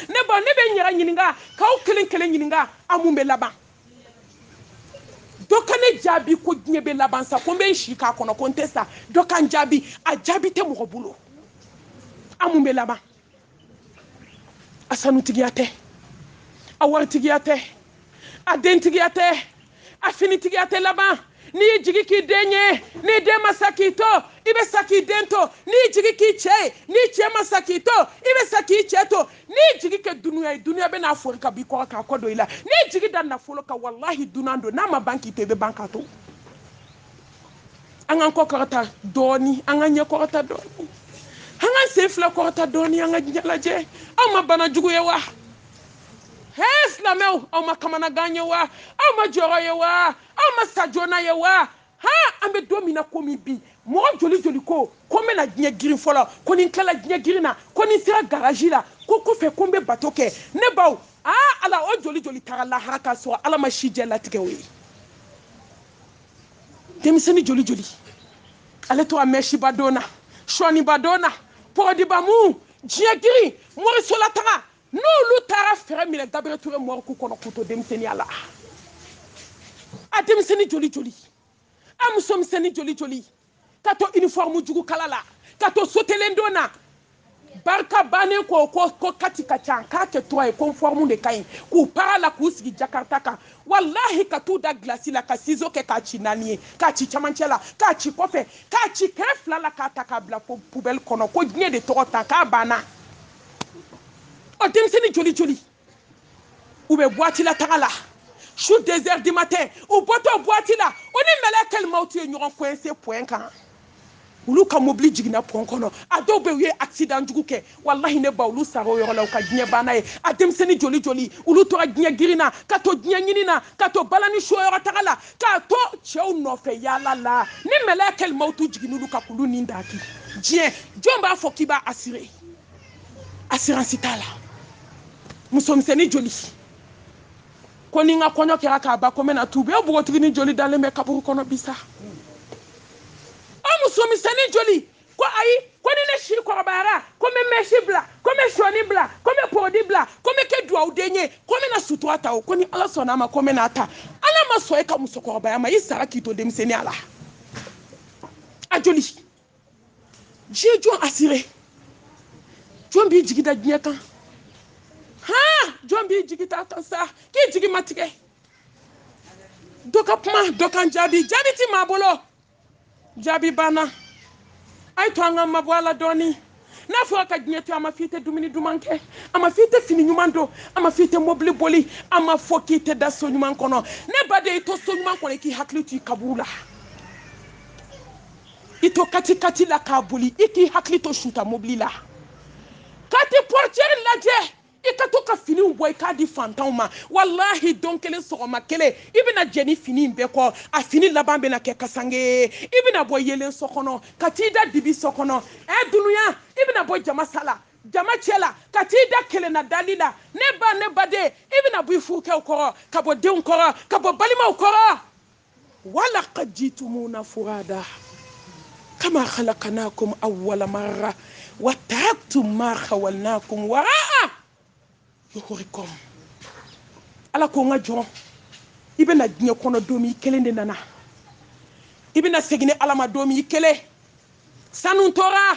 ne ba ne bɛ n yɛrɛ ɲininka k'aw kelen kelen ɲininka a mun bɛ laban dɔ ka ne jaabi ko diɲɛ bɛ laban sa ko n bɛ n si k'a kɔnɔ ko n tɛ sa dɔ ka n jaabi a jaabi tɛ mɔgɔ bolo a mun bɛ laban a sanutigiya tɛ a waritigiya tɛ a dentigiya tɛ a finitigiya tɛ laban n'i y'i jigi k'i den ye n'i den ma sa k'i to i bɛ sa k'i den to n'i y'i jigi k'i cɛ ye n'i cɛ ma sa k'i to i bɛ sa k'i cɛ to n'i y'i jigi kɛ dunuya ye dunuya bɛ n'a fori ka b'i kɔrɔ k'a kɔ don i la n'i y'i jigi da nafolo kan walahi dunan don n'a ma ban k'i to i bɛ ban k'a to an k'an kɔ kɔrɔta dɔɔni an k'an ɲɛ kɔrɔta dɔɔni an k'an sen fila kɔrɔta dɔɔni an ka diɲɛ lajɛ aw ma bana jugu ye wa he silamɛw aw ma kamanagan ye wa aw ma jɔrɔ ye wa aw ma sa joona ye wa ha an bɛ don min na komi bi mɔgɔ joli joli ko ko n bɛna diɲɛ girin fɔlɔ ko ni n tilala diɲɛ girin na ko ni n sera garaji la ko kɔfɛ ko n bɛ bato kɛ ne baw a ala o joli joli taara lahara k'a sɔrɔ ala ma sijɛ latigɛ o ye denmisɛnnin joli joli ale tora mɛsiba don na sɔniba don na pɔrɔdiba mu diɲɛ girin morisolataga n'olu taara fɛɛrɛ minɛ gabriel ture morgue kɔnɔ k'u to denmisɛnniya la a denmisɛnni joli joli a muso misɛnni joli joli ka to uniforme jugu kala la ka to sotelen don na barika bannen ko ko ko quatre ka ca k'a kɛ trois ye conforme de ka ɲi k'u para la k'u sigi jakarta kan walahi ka t'u da gilasi la ka sizo kɛ k'a ci naani ye k'a ci camancɛ la k'a ci kɔfɛ k'a ci kɛrɛ fila la k'a ta k'a bila poubelle kɔnɔ ko diɲɛ de tɔgɔ ta k'a banna ɔ denmisɛnnin joli joli u bɛ buwati la taga la su deux heures du matin u bɔtɔ buwati la o ni mɛlɛkɛ limawti ye ɲɔgɔn coince pɔn kan olu ka mobili jiginna pɔn kɔnɔ a dɔw bɛ u ye accident jugu kɛ walahi ne ba olu sara o yɔrɔ la u ka diɲɛ banna ye a denmisɛnnin joli joli olu tora diɲɛ girin na ka to diɲɛ ɲini na ka to balani show yɔrɔ taga la ka to cɛw nɔfɛ yaala la ni mɛlɛkɛ limawti jiginna olu kan k'olu ni daki diɲɛ jɔn b'a fɔ k'i b'a assurer assurance t'a la musomisɛnnin joli ko ni n ka kɔɲɔ kɛra ka ban ko n bɛna tuubi npogotiginin joli dalen bɛ kaburu kɔnɔ bi sa o musomisɛnnin joli ko ayi ko ni ne si kɔrɔbayara ko n bɛ mɛsi bila ko n bɛ sɔɔni bila ko n bɛ poudre bila ko n bɛ kɛ duwawuden ye ko n bɛna sutura ta o ko ni ala sɔnna a ma ko n bɛna a ta ala ma sɔn e ka musokɔrɔbaya ma i sara k'i to denmisɛnninya la a joli diɲɛ jɔn assuré jɔn b'i jigi da diɲɛ kan han jɔn b'i jigi d'a kan sa k'i jigi ma tigɛ dɔ ka kuma dɔ ka n jaabi jaabi ti maa bolo jaabi banna a y'a to an ka mabɔ a la dɔɔnin n'a fɔra ka diɲɛ to a ma f'i tɛ dumuni duman kɛ a ma f'i tɛ fini ɲuman don a ma f'i tɛ mobili boli a ma fɔ k'i tɛ da so ɲuman kɔnɔ ne baden i to so ɲuman kɔnɔ i k'i hakili to i kaburu la i to katikati la k'a boli i k'i hakili to suta mobili la ka t'i portiɛri lajɛ i ka to ka finiw bɔ i k'a di fantanw ma walahi don kelen sɔgɔma kelen i bɛna jɛ ni fini in bɛɛ kɔ a fini laban bɛna kɛ kasange ye i bɛna bɔ yeelen so kɔnɔ ka t'i da dibi so kɔnɔ ɛ dunuya i bɛna bɔ jama sa la jama cɛ la ka t'i da kelenna dali la ne ba ne baden i bɛna bɔ i furukɛw kɔrɔ ka bɔ denw kɔrɔ ka bɔ balimaw kɔrɔ wala qad jitumuna furada kama khalaqnakum awwala marra wa taraktum ma khawalnakum waraa yuhurikum ala ko n ka jɔn i bɛ na diɲɛ kɔnɔ don min i kelen de nana i bɛna segin ne ala ma don min i kelen sanu tora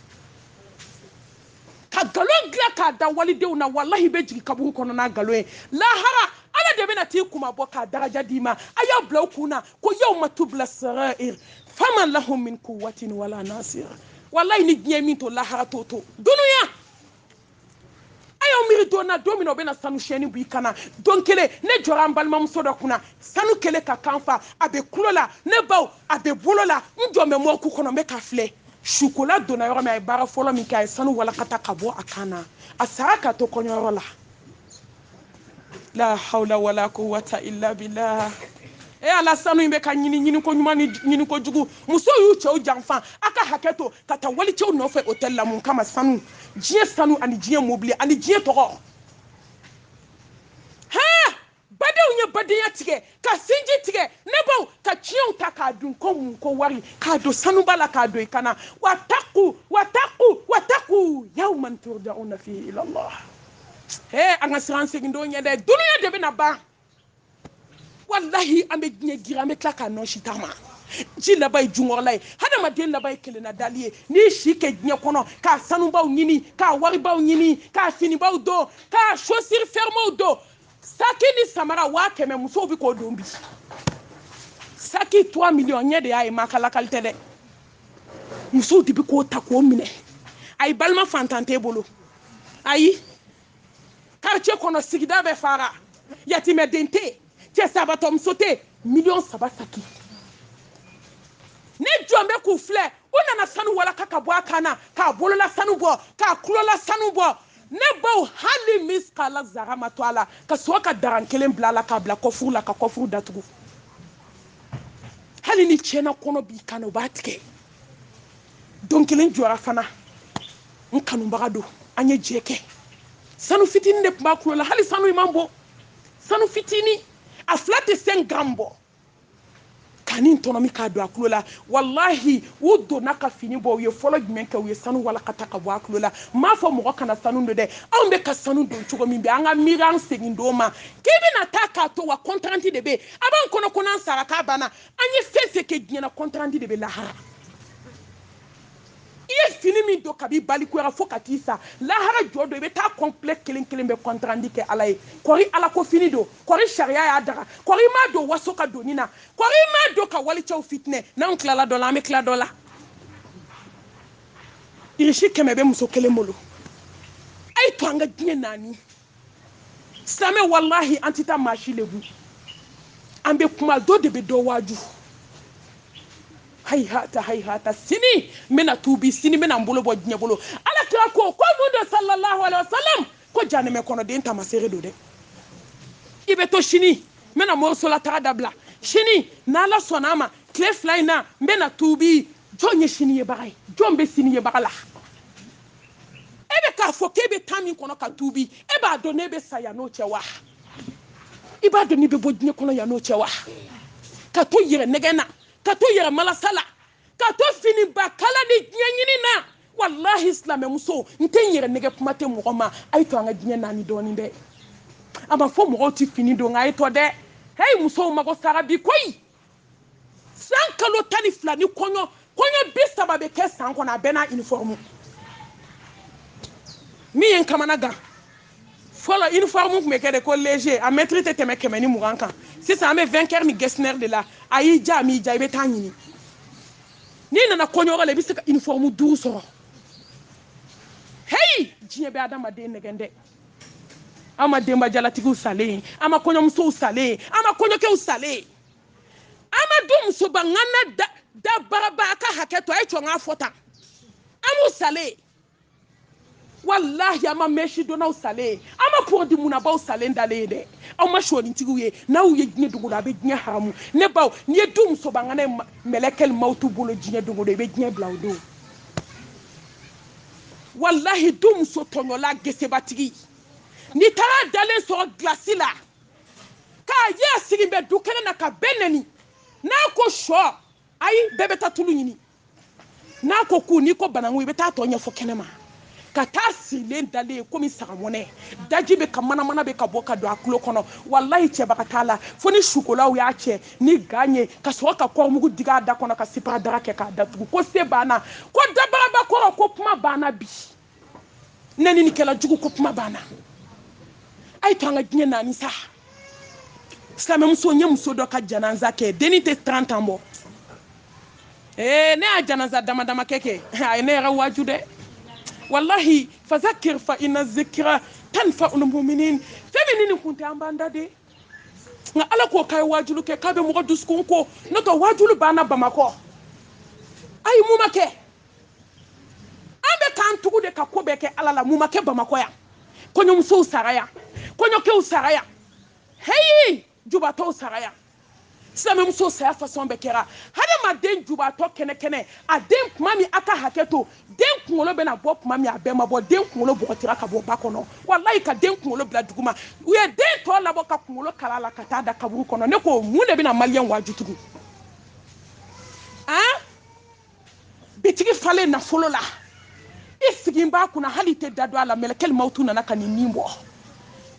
ka nkalon dilan k'a da walidenw na walahi bɛ jigin kaburu kɔnɔ n'a nkalon ye lahara ala de bɛna t'i kuma bɔ k'a daraja d'i ma a y'a bila aw kun na ko yawma tubla sarair fama lahum min kuwatin wala nasira walahi ni diɲɛ min to lahara t'o to dunuya aw miiri don na don min na o bɛna sanu chaîne bɔ i kan na don kelen ne jɔra n balimamuso dɔ kunna sanu kɛlen k'a kan fa a bɛ kulo la ne baw a bɛ bolo la n jɔn bɛ morgue kɔnɔ n bɛ k'a filɛ sukola donna yɔrɔ min a ye baara fɔlɔ min kɛ a ye sanu walakata ka bɔ a kan na a sara ka to kɔɲɔyɔrɔ la la hawla wala quwwata illa billah e ala sanu in bɛ ka ɲini ɲiniko ɲuman ni ɲiniko jugu musow y'u cɛw janfa a ka hakɛ to ka taa walicɛw nɔfɛ hôtel la mun kama sanu diɲɛ sanu ani diɲɛ mobili ani diɲɛ tɔgɔ hɛɛ badenw ye badenya tigɛ ka sinji tigɛ ne baw ka tiɲɛw ta k'a dun ko mun ko wari k'a don sanuba la k'a don i kan na wattaqu wattaqu wattaqu yawman turjauna fihi ila allah he an ka siran segin don ɲɛ dɛ duniya de bɛna ban walahi an bɛ diɲɛ gira an bɛ tila k'a nɔnsi taama ji laban ye junkɔrɔla ye hadamaden laban ye kelenna dali ye n'i si kɛ diɲɛ kɔnɔ ka sanubaw ɲini ka waribaw ɲini ka finibaw don ka chaussure fermew don saki ni samara waa kɛmɛ musow bɛ k'o don bi saki trois millions ɲɛ de y'a ye maa ka lakali tɛ dɛ musow de bɛ k'o ta k'o minɛ ayi balima fantan t'e bolo ayi quartier kɔnɔ sigida bɛ fara yatimɛden tɛ yen cɛsabaatɔ muso tɛ yen miliyɔn saba saki ne jɔn bɛ k'u filɛ u nana sanu walaka ka bɔ a kan na k'a bolola sanu bɔ k'a tulola sanu bɔ ne baw hali miskala zara ma to a la ka sɔrɔ ka daran kelen bila a la k'a bila kɔfuru la ka kɔfuru datugu hali ni cɛnakɔnɔ b'i kan o b'a tigɛ don kelen n jɔra fana n kanubaga don an ye jɛ kɛ sanu fitinin de tun b'a kulo la hali sanu in man bon sanu fitinin a fila tɛ cinq grammes bɔ ka nin tɔnɔmi k'a don a kulo la walahi u donna ka fini bɔ u ye fɔlɔ jumɛn kɛ u ye sanu walakata ka bɔ a kulo la n m'a fɔ mɔgɔ kana sanu don dɛ anw bɛ ka sanu don cogo min bɛ an ka miiri an segin don ma k'i bɛna taa k'a to wa compte rendu de bɛ a b'an kɔnɔ ko n'an sara k'a banna an ye fɛn fɛn kɛ diɲɛ na compte rendu de bɛ lahara i ye fini min don kabi i balikuyara fo ka t'i sa lahara jɔ don i bɛ taa kɔnpilɛ kelen kelen bɛɛ compte rendu kɛ ala ye kɔri ala ko fini don kɔri sariya y'a daga kɔri i m'a don waso ka doni na kɔri i m'a don ka walicɛw fitinɛ n'anw tilala dɔ la an bɛ tila dɔ la irisi kɛmɛ bɛ muso kelen bolo a y'a to an ka diɲɛ naani silamɛ walahi an tɛ taa maa si lebu an bɛ kuma dɔ de bɛ dɔ waaju hayihata hayihata sini n bɛna tuubi sini n bɛna n bolo bɔ diɲɛ bolo ala kira ko ko mun don sallallahu alaihi wa sallam ko janɛmɛ kɔnɔden taamasere don dɛ i bɛ to sini n bɛna morisola taga dabila sini n'ala sɔnna a ma tile fila in na n bɛna tuubi jɔn ye sini yebaga ye jɔn bɛ sini yebaga la e bɛ k'a fɔ k'e bɛ taa min kɔnɔ ka tuubi e b'a dɔn n'e bɛ sa yan n'o cɛ wa i b'a dɔn n'i bɛ bɔ diɲɛ kɔnɔ yan n'o cɛ wa ka to yɛrɛ nɛgɛn na ka to yɛrɛ malasa la ka to finiba kala ni diɲɛ ɲini na walahi silamɛmusow n tɛ n yɛrɛ nɛgɛn kuma tɛ mɔgɔ ma a ye to an ka diɲɛ naani dɔɔnin dɛ a ma fɔ mɔgɔw tɛ fini don nka a ye tɔ dɛ heyi musow mago sara bi koyi san kalo tan ni fila nin kɔɲɔ bi saba bɛ kɛ san kɔnɔ a bɛɛ n'a uniforme min ye n kamana gan fɔlɔ uniforme tun bɛ kɛ de ko léger a mɛtiri tɛ tɛmɛ kɛmɛ ni mugan kan sisan an bɛ vainqueur ni getzner de la a y'i diya a m'i diya i bɛ taa ɲini n'i nana kɔɲɔyɔrɔ la i bɛ se ka uniforme duuru sɔrɔ heyi diɲɛ bɛ adamaden nɛgɛn dɛ an ma denbajalatigiw salen ye an ma kɔɲɔmusow salen ye an ma kɔɲɔkɛw salen ye an ma du musoba ŋana dabaraba a ka hakɛ to a ye to n k'a fɔ tan an m'u salen ye walahi an ma mɛsi donnaw salen ye an ma pɔrɔdi munnabaw salen dalen ye dɛ aw ma sɔnintigiw ye n'aw ye diɲɛ dogodo a bɛ diɲɛ haramu ne baw n'i ye du musoba ŋana ye mɛlɛkɛli mawutu bolo diɲɛ dogodo i bɛ diɲɛ bila o don walahi du muso tɔɲɔla gesebatigi n'i taara dalen sɔrɔ gilasi la k'a ye a sigilen bɛ du kɛnɛ na ka bɛɛ nɛni n'a ko sɔ ayi bɛɛ bɛ taa tulu ɲini n'a ko ku n'i ko bananku i bɛ taa tɔ ɲɛfɔ kɛnɛ ma ka taa sirilen dalen komi sagamɔnɛ daji bɛ ka manamana bɛ ka bɔ ka don a kulo kɔnɔ walayi cɛbaga t'a la fo ni sukolaw y'a cɛ ni gan ye ka sɔrɔ ka kɔɔrimugu digi a da kɔnɔ ka sparadrap kɛ k'a datugu ko se banna ko dabaraba kɔrɔ ko kuma banna bi nɛninikɛla jugu ko kuma banna a ye to an ka diɲɛ naani sa silamɛmuso n ye muso dɔ ka jananza kɛ dennin tɛ trente ans bɔ ee ne y'a jananza dama dama kɛ kɛ a ye ne yɛrɛ waaju dɛ walahi fazakir fa inna zikira tanfaul muminin fɛn min ni nin kun tɛ an b'an da de nka ala ko k'a ye waajulu kɛ k'a bɛ mɔgɔ dusukun ko n'o tɛ waajulu banna bamakɔ a ye mun ma kɛ an bɛ k'an tugu de ka ko bɛɛ kɛ ala la mun ma kɛ bamakɔ yan kɔɲɔmusow sara yan kɔɲɔkɛw sara yan heyi jubatɔw sara yan silamɛmuso saya fasɔn bɛɛ kɛra hadamaden jubatɔ kɛnɛkɛnɛ a den kuma min a ka hakɛ to den kunkolo bɛna bɔ kuma min a bɛɛ ma bɔ den kunkolo bɔgɔtira ka bɔ ba kɔnɔ walayi ka den kunkolo bila duguma u ye den tɔ labɔ ka kunkolo kala a la ka taa da kaburu kɔnɔ ne ko mun de bɛna maliyɛn waaju tugun an bitigi falen nafolo la i sigin b'a kunna hali i tɛ da don a la mɛlɛkɛli mawutu nana ka ni nin bɔ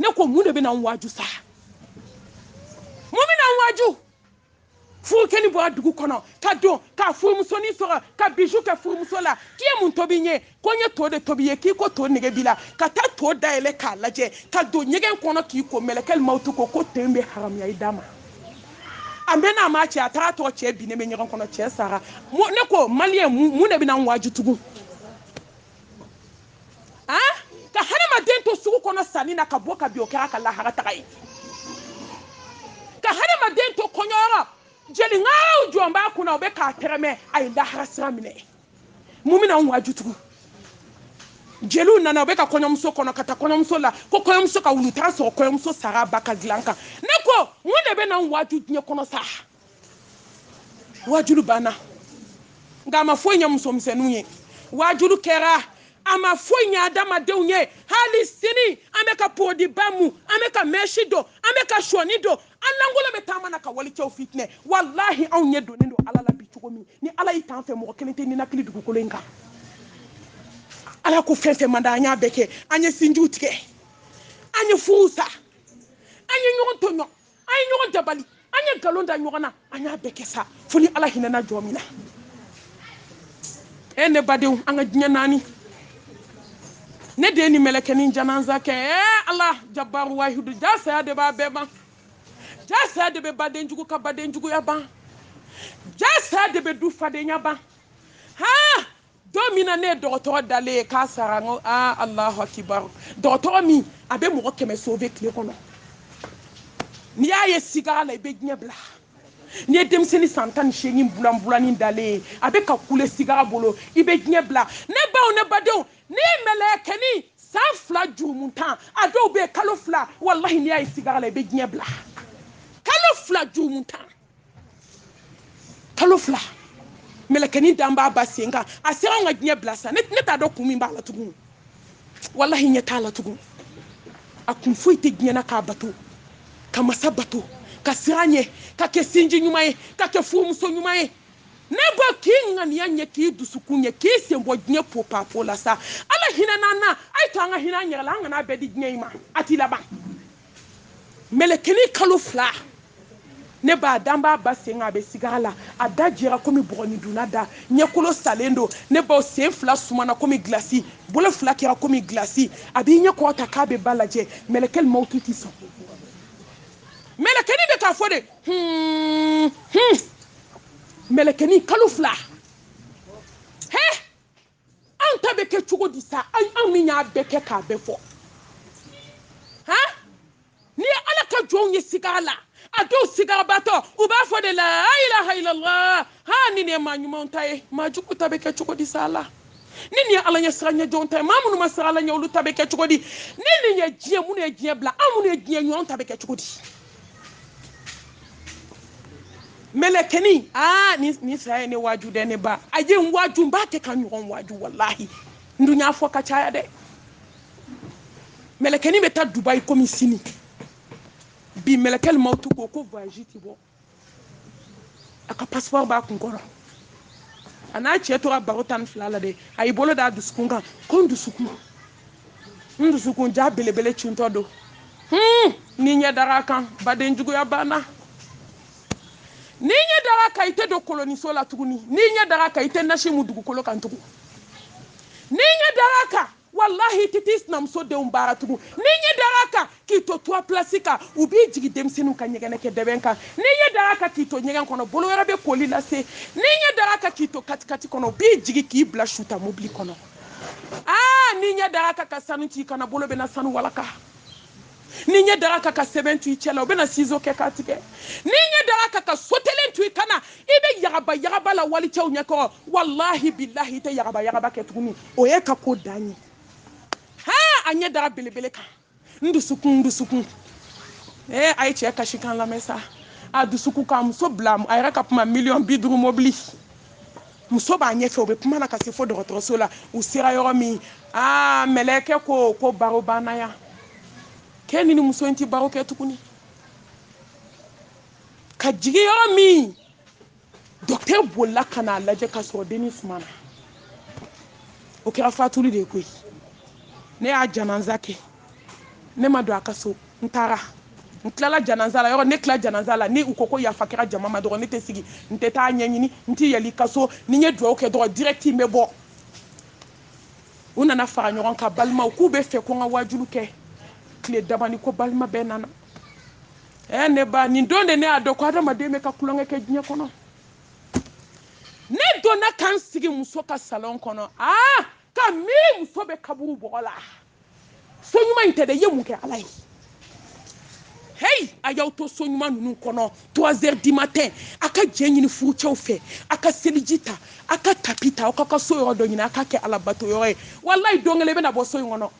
ne ko mun de bɛna n waaju sa mun bɛna an waaju furukɛnin bɔra dugu kɔnɔ ka don ka furumusonin sɔrɔ ka biju kɛ furumuso la k'i ye mun tobi n ye ko n ye to de tobi i ye k'i ko to nege b'i la ka taa to dayɛlɛ k'a lajɛ ka don ɲɛgɛn kɔnɔ k'i ko mɛlɛkɛli mawutu ko ko to in bɛ haramuya i da ma a mɛnna a ma cɛ a taara sɔrɔ cɛ binnen bɛ ɲɛgɛn kɔnɔ cɛ sara ne ko maliyɛn mun de bɛna an waaju tugun ah ka hadamaden to sugu kɔnɔ sanni na ka bɔ ka bin o kɛra a ka lahara taga ye ka hadamaden to kɔɲɔyɔrɔ jeliŋaraw jɔlen b'a kunna u bɛ k'a tɛrɛmɛ a ye lahara sira minɛ mun bɛna an waaju tugun jeliw nana u bɛ ka kɔɲɔmuso kɔnɔ ka taa kɔɲɔmuso la ko kɔɲɔmuso ka wuli u taara sɔrɔ kɔɲɔmuso sara ba ka dilan kan ne ko mun de bɛna an waaju diɲɛ kɔnɔ sa waajuli banna nka a ma foyi ɲɛ musomisɛnninw ye waajuli kɛra a ma foyi ɲɛ adamadenw ye hali sini an bɛ ka porodiba mu an bɛ ka mɛsi don an bɛ ka sɔnin don an lankolon bɛ taama na ka walicɛw fitinɛ walahi anw ɲɛ donnen don ala la bi cogo min ni ala y'i t'an fɛ mɔgɔ kelen tɛ ninakili dugukolo in kan ala ko fɛn fɛn man da an y'a bɛɛ kɛ an ye sinjiw tigɛ an ye furuw sa an ye ɲɔgɔn tɔɲɔ an ye ɲɔgɔn dabali an ye nkalon da ɲɔgɔn na an y'a bɛɛ kɛ sa fo ni ala hinɛna jɔn min na e ne badenw an ka diɲɛ naani ne ye dennin mɛlɛkɛnin jananza kɛ e ala jabaru wahidu ja saya de b'a bɛɛ ban ja saya de bɛ baden jugu ka baden juguya ban ja saya de bɛ du fadenya ban haa don min na ne ye dɔgɔtɔrɔ dalen ye k'a sara n ko aa alahu akibaru dɔgɔtɔrɔ min a bɛ mɔgɔ kɛmɛ sove tile kɔnɔ n'i y'a ye sigara la i bɛ diɲɛ bila n'i ye denmisɛnnin san tan ni seegin bulan bulanin dalen ye a bɛ ka kule sigara bolo i bɛ diɲɛ bila ne baw ne badenw n'i ye mɛlɛkɛnin san fila jurumuntan a dɔw bɛ kalo fila walahi n'i y'a ye sigara la i bɛ diɲɛ bila kalo fila jurumuntan kalo fila mɛlɛkɛnin dalen b'a ba sen kan a sera an ka diɲɛ bila sa ne t'a dɔn kun min b'a la tugun walahi ɲɛ t'a la tugun a kun foyi tɛ diɲɛ na k'a bato ka masa bato ka siran a ɲɛ ka kɛ sinji ɲuman ye ka kɛ furumuso ɲuman ye ne baw k'i ŋaniya ɲɛ k'i dusukun ɲɛ k'i sen bɔ diɲɛ popapo la sa ala hinɛna an na a y'a to an ka hinɛ an yɛrɛ la an kana bɛɛ di diɲɛ in ma a t'i laban mɛlɛkɛnin kalo fila ne baw dalen b'a ba sen kan a bɛ sigara la a da jɛra komi bɔgɔnidunna da ɲɛkolo salen don ne baw sen fila sumana komi gilasi bolo fila kɛra komi gilasi a b'i ɲɛ kɔrɔta k'a bɛ ba lajɛ mɛlɛkɛli mawutu tɛ sɔn mɛlɛkɛnin bɛ k'a fɔ de hun hun mɛlɛkɛnin kalo fila hɛ an ta bɛ kɛ cogo di sa anw min y'a bɛɛ kɛ k'a bɛɛ fɔ han n'i ye ala ka jɔnw ye sig'a la a dɔw sigabatɔ u b'a fɔ de la ilaha illallah ha ni nin ye maa ɲumanw ta ye maa jugu ta bɛ kɛ cogo di sa la ni nin ye ala ɲɛsiranɲɛ jɔnw ta ye maa minnu ma siran ala ɲɛ olu ta bɛ kɛ cogo di ni nin ye diɲɛ minnu ye diɲɛ bila anw minnu ye diɲɛ ɲɔgɔn ta bɛ kɛ cogo di mɛlɛkɛni aa ni ni saya ye ne waaju dɛ ne ba a ye n waaju n b'a kɛ ka ɲɔgɔn waaju walahi n dun y'a fɔ ka caya dɛ mɛlɛkɛni bɛ taa dubayi komi sini bi mɛlɛkɛli ma tu ko ko voyage ti bɔ a ka passeport b'a kun kɔrɔ a n'a cɛ tora baro tan ni fila la dɛ a y'i bolo d'a dusukun kan ko n dusukun n dusukun jaa belebele cuntɔ don hmm, n'i ɲɛ dara a kan baden juguya banna n'i ɲɛ dara a kan i tɛ don koloniso la tuguni n'i ɲɛ dara a kan i tɛ nasi mu dugukolo kan tugun n'i ɲɛ dara a kan walahi i tɛ t'i sinamuso denw baara tugun n'i ɲɛ dara a kan k'i to trois places kan u b'i jigin denmisɛnninw ka ɲɛgɛnɛ kɛ dɛbɛn kan n'i ɲɛ dara a kan k'i to ɲɛgɛn kɔnɔ bolo wɛrɛ bɛ koli lase n'i ɲɛ dara a kan k'i to katikati kɔnɔ u b'i jigin k'i bila suta mobili kɔnɔ aa n'i ɲɛ dara a kan ka sanu t'i kan na bolo bɛna sanu walaka n'i ɲɛ dara a kan ka sɛbɛn to i cɛ la u bɛna sizo kɛ k'a tigɛ n'i ɲɛ dara a kan ka sotelen to i kan na i bɛ yagaba yagaba la walicɛw ɲɛ kɔrɔ walahi bilahi i tɛ yagaba yagaba kɛ tuguni o y'i ka ko dan ye haa a ɲɛ dara belebele kan n dusukun n dusukun ee a ye cɛ kasikan lamɛn sa a dusukun ka muso bila a yɛrɛ ka kuma miliyɔn bi duuru mobili muso b'a ɲɛfɛ u bɛ kuma na ka se fo dɔgɔtɔrɔso la u sera yɔrɔ min aa mɛlɛkɛ ko ko baro banna yan k'e ni nin muso in tɛ baro kɛ tuguni ka jigin yɔrɔ min docteur bolila ka n'a lajɛ ka sɔrɔ dennin sumana o kɛra fatuli de ye koyi ne y'a janaza kɛ ne ma don a ka so n taara n tilala janaza la yɔrɔ ne tila janaza la ni u ko ko yafa kɛra jama ma dɔrɔn ne tɛ sigi n tɛ taa ɲɛɲini n tɛ yɛlɛn i ka so ni n ye dugawu kɛ dɔrɔn direct n bɛ bɔ u nana fara ɲɔgɔn kan balimaw k'u b'a fɛ ko n ka waajulu kɛ tile dabani ko balima bɛɛ nana ɛ ne ba nin don de ne y'a dɔn ko adamaden bɛ ka tulonkɛ kɛ diɲɛ kɔnɔ ne donna ka n sigi muso ka salɔn kɔnɔ aa ka miiri muso bɛ kaburu bɔgɔ la so ɲuman in tɛ dɛ i ye mun kɛ ala ye heyi a y'aw to so ɲuman ninnu kɔnɔ trois heures du matin a ka jɛn ɲini furucɛw fɛ a ka seliji ta a ka tapi ta aw k'a ka so yɔrɔ dɔ ɲini a ka kɛ alabato yɔrɔ ye walayi don kelen i bɛna bɔ so in kɔnɔ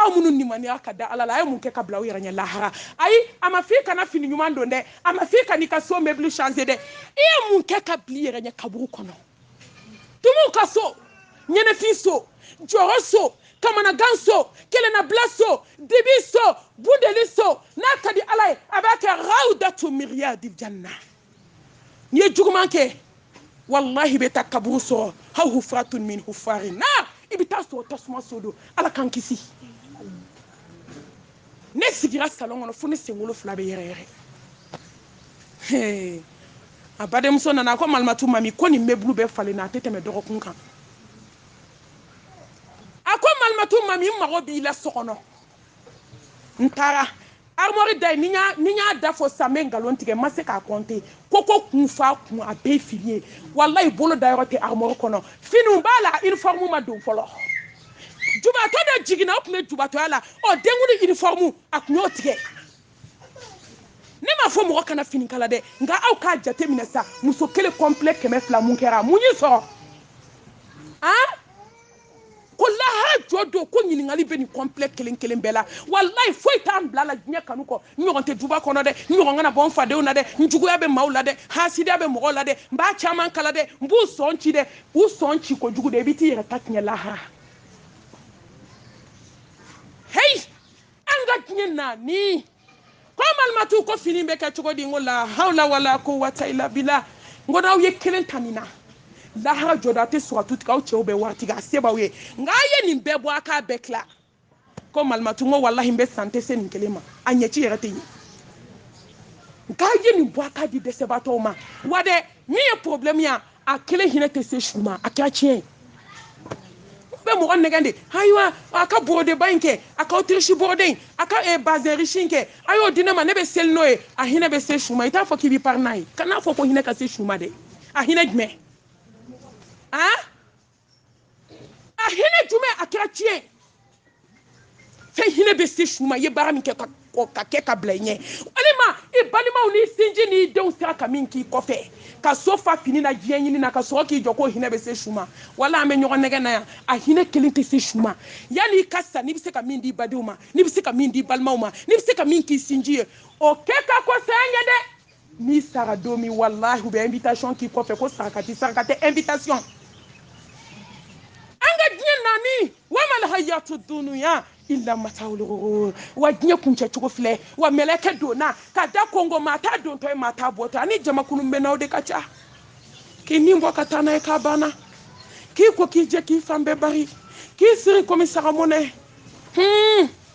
aw minnu nimaniya ka da ala la a ye mun kɛ ka bila aw yɛrɛ ɲɛ lahara ayi a ma f'i kana fini ɲuman don dɛ a ma f'i kan'i ka so meuble changer dɛ i ye mun kɛ ka bil'i yɛrɛ ɲɛ kaburu kɔnɔ tumuw ka so ɲɛnafin so jɔrɔ so kamanagan so kelennabila so dibi so bundeli so n'a ka di ala ye a b'a kɛ rawdatu min riyadil janna n'i ye juguman kɛ walahi i bɛ taa kaburu sɔrɔ aw hufratun min hufarin nar i bɛ t'a sɔrɔ tasuma so don ala k'an kisi ne sigira salon kɔnɔ fo ne senkolo fila bɛ yɛrɛ yɛrɛ a badenmuso nana a ko malimatu mami ko nin meuble bɛɛ falenna a tɛ tɛmɛ dɔgɔkun kan a ko malimatu mami n mago b'i la so kɔnɔ n taara armoire da ye ni y'a ni y'a da fɔ sisan n bɛ nkalon tigɛ n ma se k'a compter ko ko kun fa kun a bɛɛ fini ye walayi bolo da yɔrɔ tɛ armoire kɔnɔ finiw b'a la uniforme ma don fɔlɔ jubatɔ dɔ jiginna o tun bɛ jubatɔya la ɔ denkundi uniforme a tun y'o tigɛ ne m'a fɔ mɔgɔ kana fini kala dɛ nka aw k'a jate minɛ sa muso kelen complet kɛmɛ fila mun kɛra mun y'i sɔrɔ an ko lahara jɔ don ko ɲininkali bɛ nin complet kelen kelen bɛɛ la walayi foyi t'an bil'a la diɲɛ kanu kɔ n ɲɔgɔn tɛ duba kɔnɔ dɛ n ɲɔgɔn kana bɔ n fadenw na dɛ n juguya bɛ maaw la dɛ hasidiya bɛ mɔgɔw la dɛ n b'a caman kala dɛ n b'u sɔn ci dɛ u sɔn ci kojugu dɛ i bɛ t'i yɛrɛ ta tiɲɛ lahara heyi an ka diɲɛ naani. ko malimatu ko fini bɛ kɛ cogo di n ko la hawla wala quwwata illa billah n ko n'aw ye kelen ta nin na lahara jɔda tɛ siratu tigɛ aw cɛw bɛɛ waritigi a se b'aw ye nka a ye nin bɛɛ bɔ a k'a bɛɛ tila ko malimatu n ko walahi n bɛ sa n tɛ se nin kelen ma a ɲɛci yɛrɛ tɛ ye nka a ye nin bɔ a k'a di dɛsɛbaatɔw ma wa dɛ min ye problème ye a kelen hinɛ tɛ se su ma a kɛra tiɲɛ ye bɛ mɔgɔ nɛgɛn de ayiwa a ka borodeba in kɛ a ka autriche borode in a ka eh, bazin riche in kɛ a y'o di ne ma ne bɛ seli n'o ye a hinɛ bɛ se su ma i t'a fɔ k'i bɛ pari n'a ye kan'a fɔ ko hinɛ ka se su ma dɛ a hinɛ jumɛn a a hinɛ jumɛn a kɛra tiɲɛ ye fɛn hinɛ bɛ se su ma i ye baara min kɛ ka ka kɛ ka bila i ɲɛ walima i balimaw n'i sinji n'i denw sera ka min k'i kɔfɛ ka so fa fini na diɲɛ ɲini na ka sɔrɔ k'i jɔ k'o hinɛ bɛ se su ma wala an bɛ ɲɔgɔn nɛgɛn na yan a hinɛ kelen tɛ se su ma yanni i ka sa n'i bɛ se ka min di badenw ma n'i bɛ se ka min di balimaw ma n'i bɛ se ka min k'i sinji ye o kɛ ka kɔn saya ɲɛ dɛ n'i sara don min walahi u bɛ invitation k'i kɔfɛ ko saraka ti saraka tɛ invitation an ka diɲɛ nani wamal hayatu dunuya illa matawul ghurur wa diɲɛ kuncɛ cogo filɛ wa mɛlɛkɛ donna ka da kongo maa t'a dontɔ ye maa t'a bɔtɔ ani jamakulu bɛ n'aw de ka ca k'i ni bɔ ka taa n'a ye k'a banna k'i ko k'i jɛ k'i fan bɛɛ bari k'i siri komi sagamɔnɛ hmm.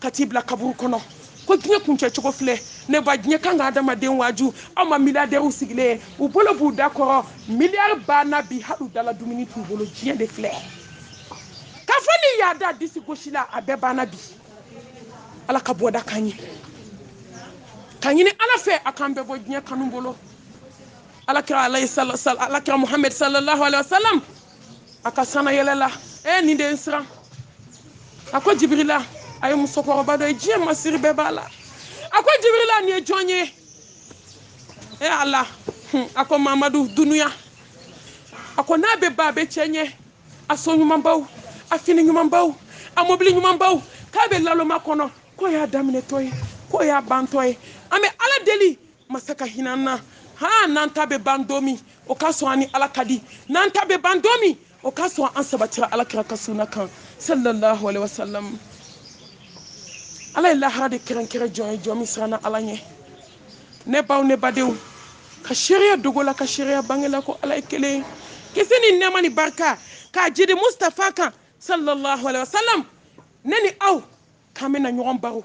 ka t'i bila kaburu kɔnɔ ko diɲɛ kuncɛ cogo filɛ ne ba diɲɛ kan ka adamaden waaju aw ma miliyardɛriw sigilen ye u bolo b'u da kɔrɔ miliyari banna bi hali u dala dumuni t'u bolo diɲɛ de filɛ k'a fɔ n'i y'a da disi gosi la a bɛɛ banna bi ala ka bɔda k'an ye k'a ɲini ala fɛ a k'an bɛɛ bɔ diɲɛ kanu bolo alakira muhamɛd salallahu alayhi wa salam a ka sanna yɛlɛ la e nin de ye n siran a ko jibirila a ye musokɔrɔba dɔ ye diɲɛ masiri bɛɛ b'a la a ko jibirila nin ye jɔn ye e ala a ko mamadu dunuya a ko n'a bɛ ban a bɛ cɛɲɛ a so ɲumanbaw a fini ɲumanbaw a mobili ɲumanbaw k'a bɛ laloma kɔnɔ k'o y'a daminɛtɔ ye k'o y'a bantɔ ye an bɛ ala deli masa ka hinɛ an na haa n'an ta bɛ ban don min o k'a sɔrɔ an ni ala ka di n'an ta bɛ ban don min o k'a sɔrɔ an sabatira ala kira ka sunna kan sallallahu alaihi wasallam ala ye lahara de kɛrɛnkɛrɛn jɔn ye jɔn min siranna ala ɲɛ ne baw ne badenw ka seereya dogo la ka seereya bange la ko ala ye kelen ye kisi ni nɛɛma ni barika ka jigi mustafa kan sallallahu alaihi wasallam ne ni aw k'an bɛna ɲɔgɔn baro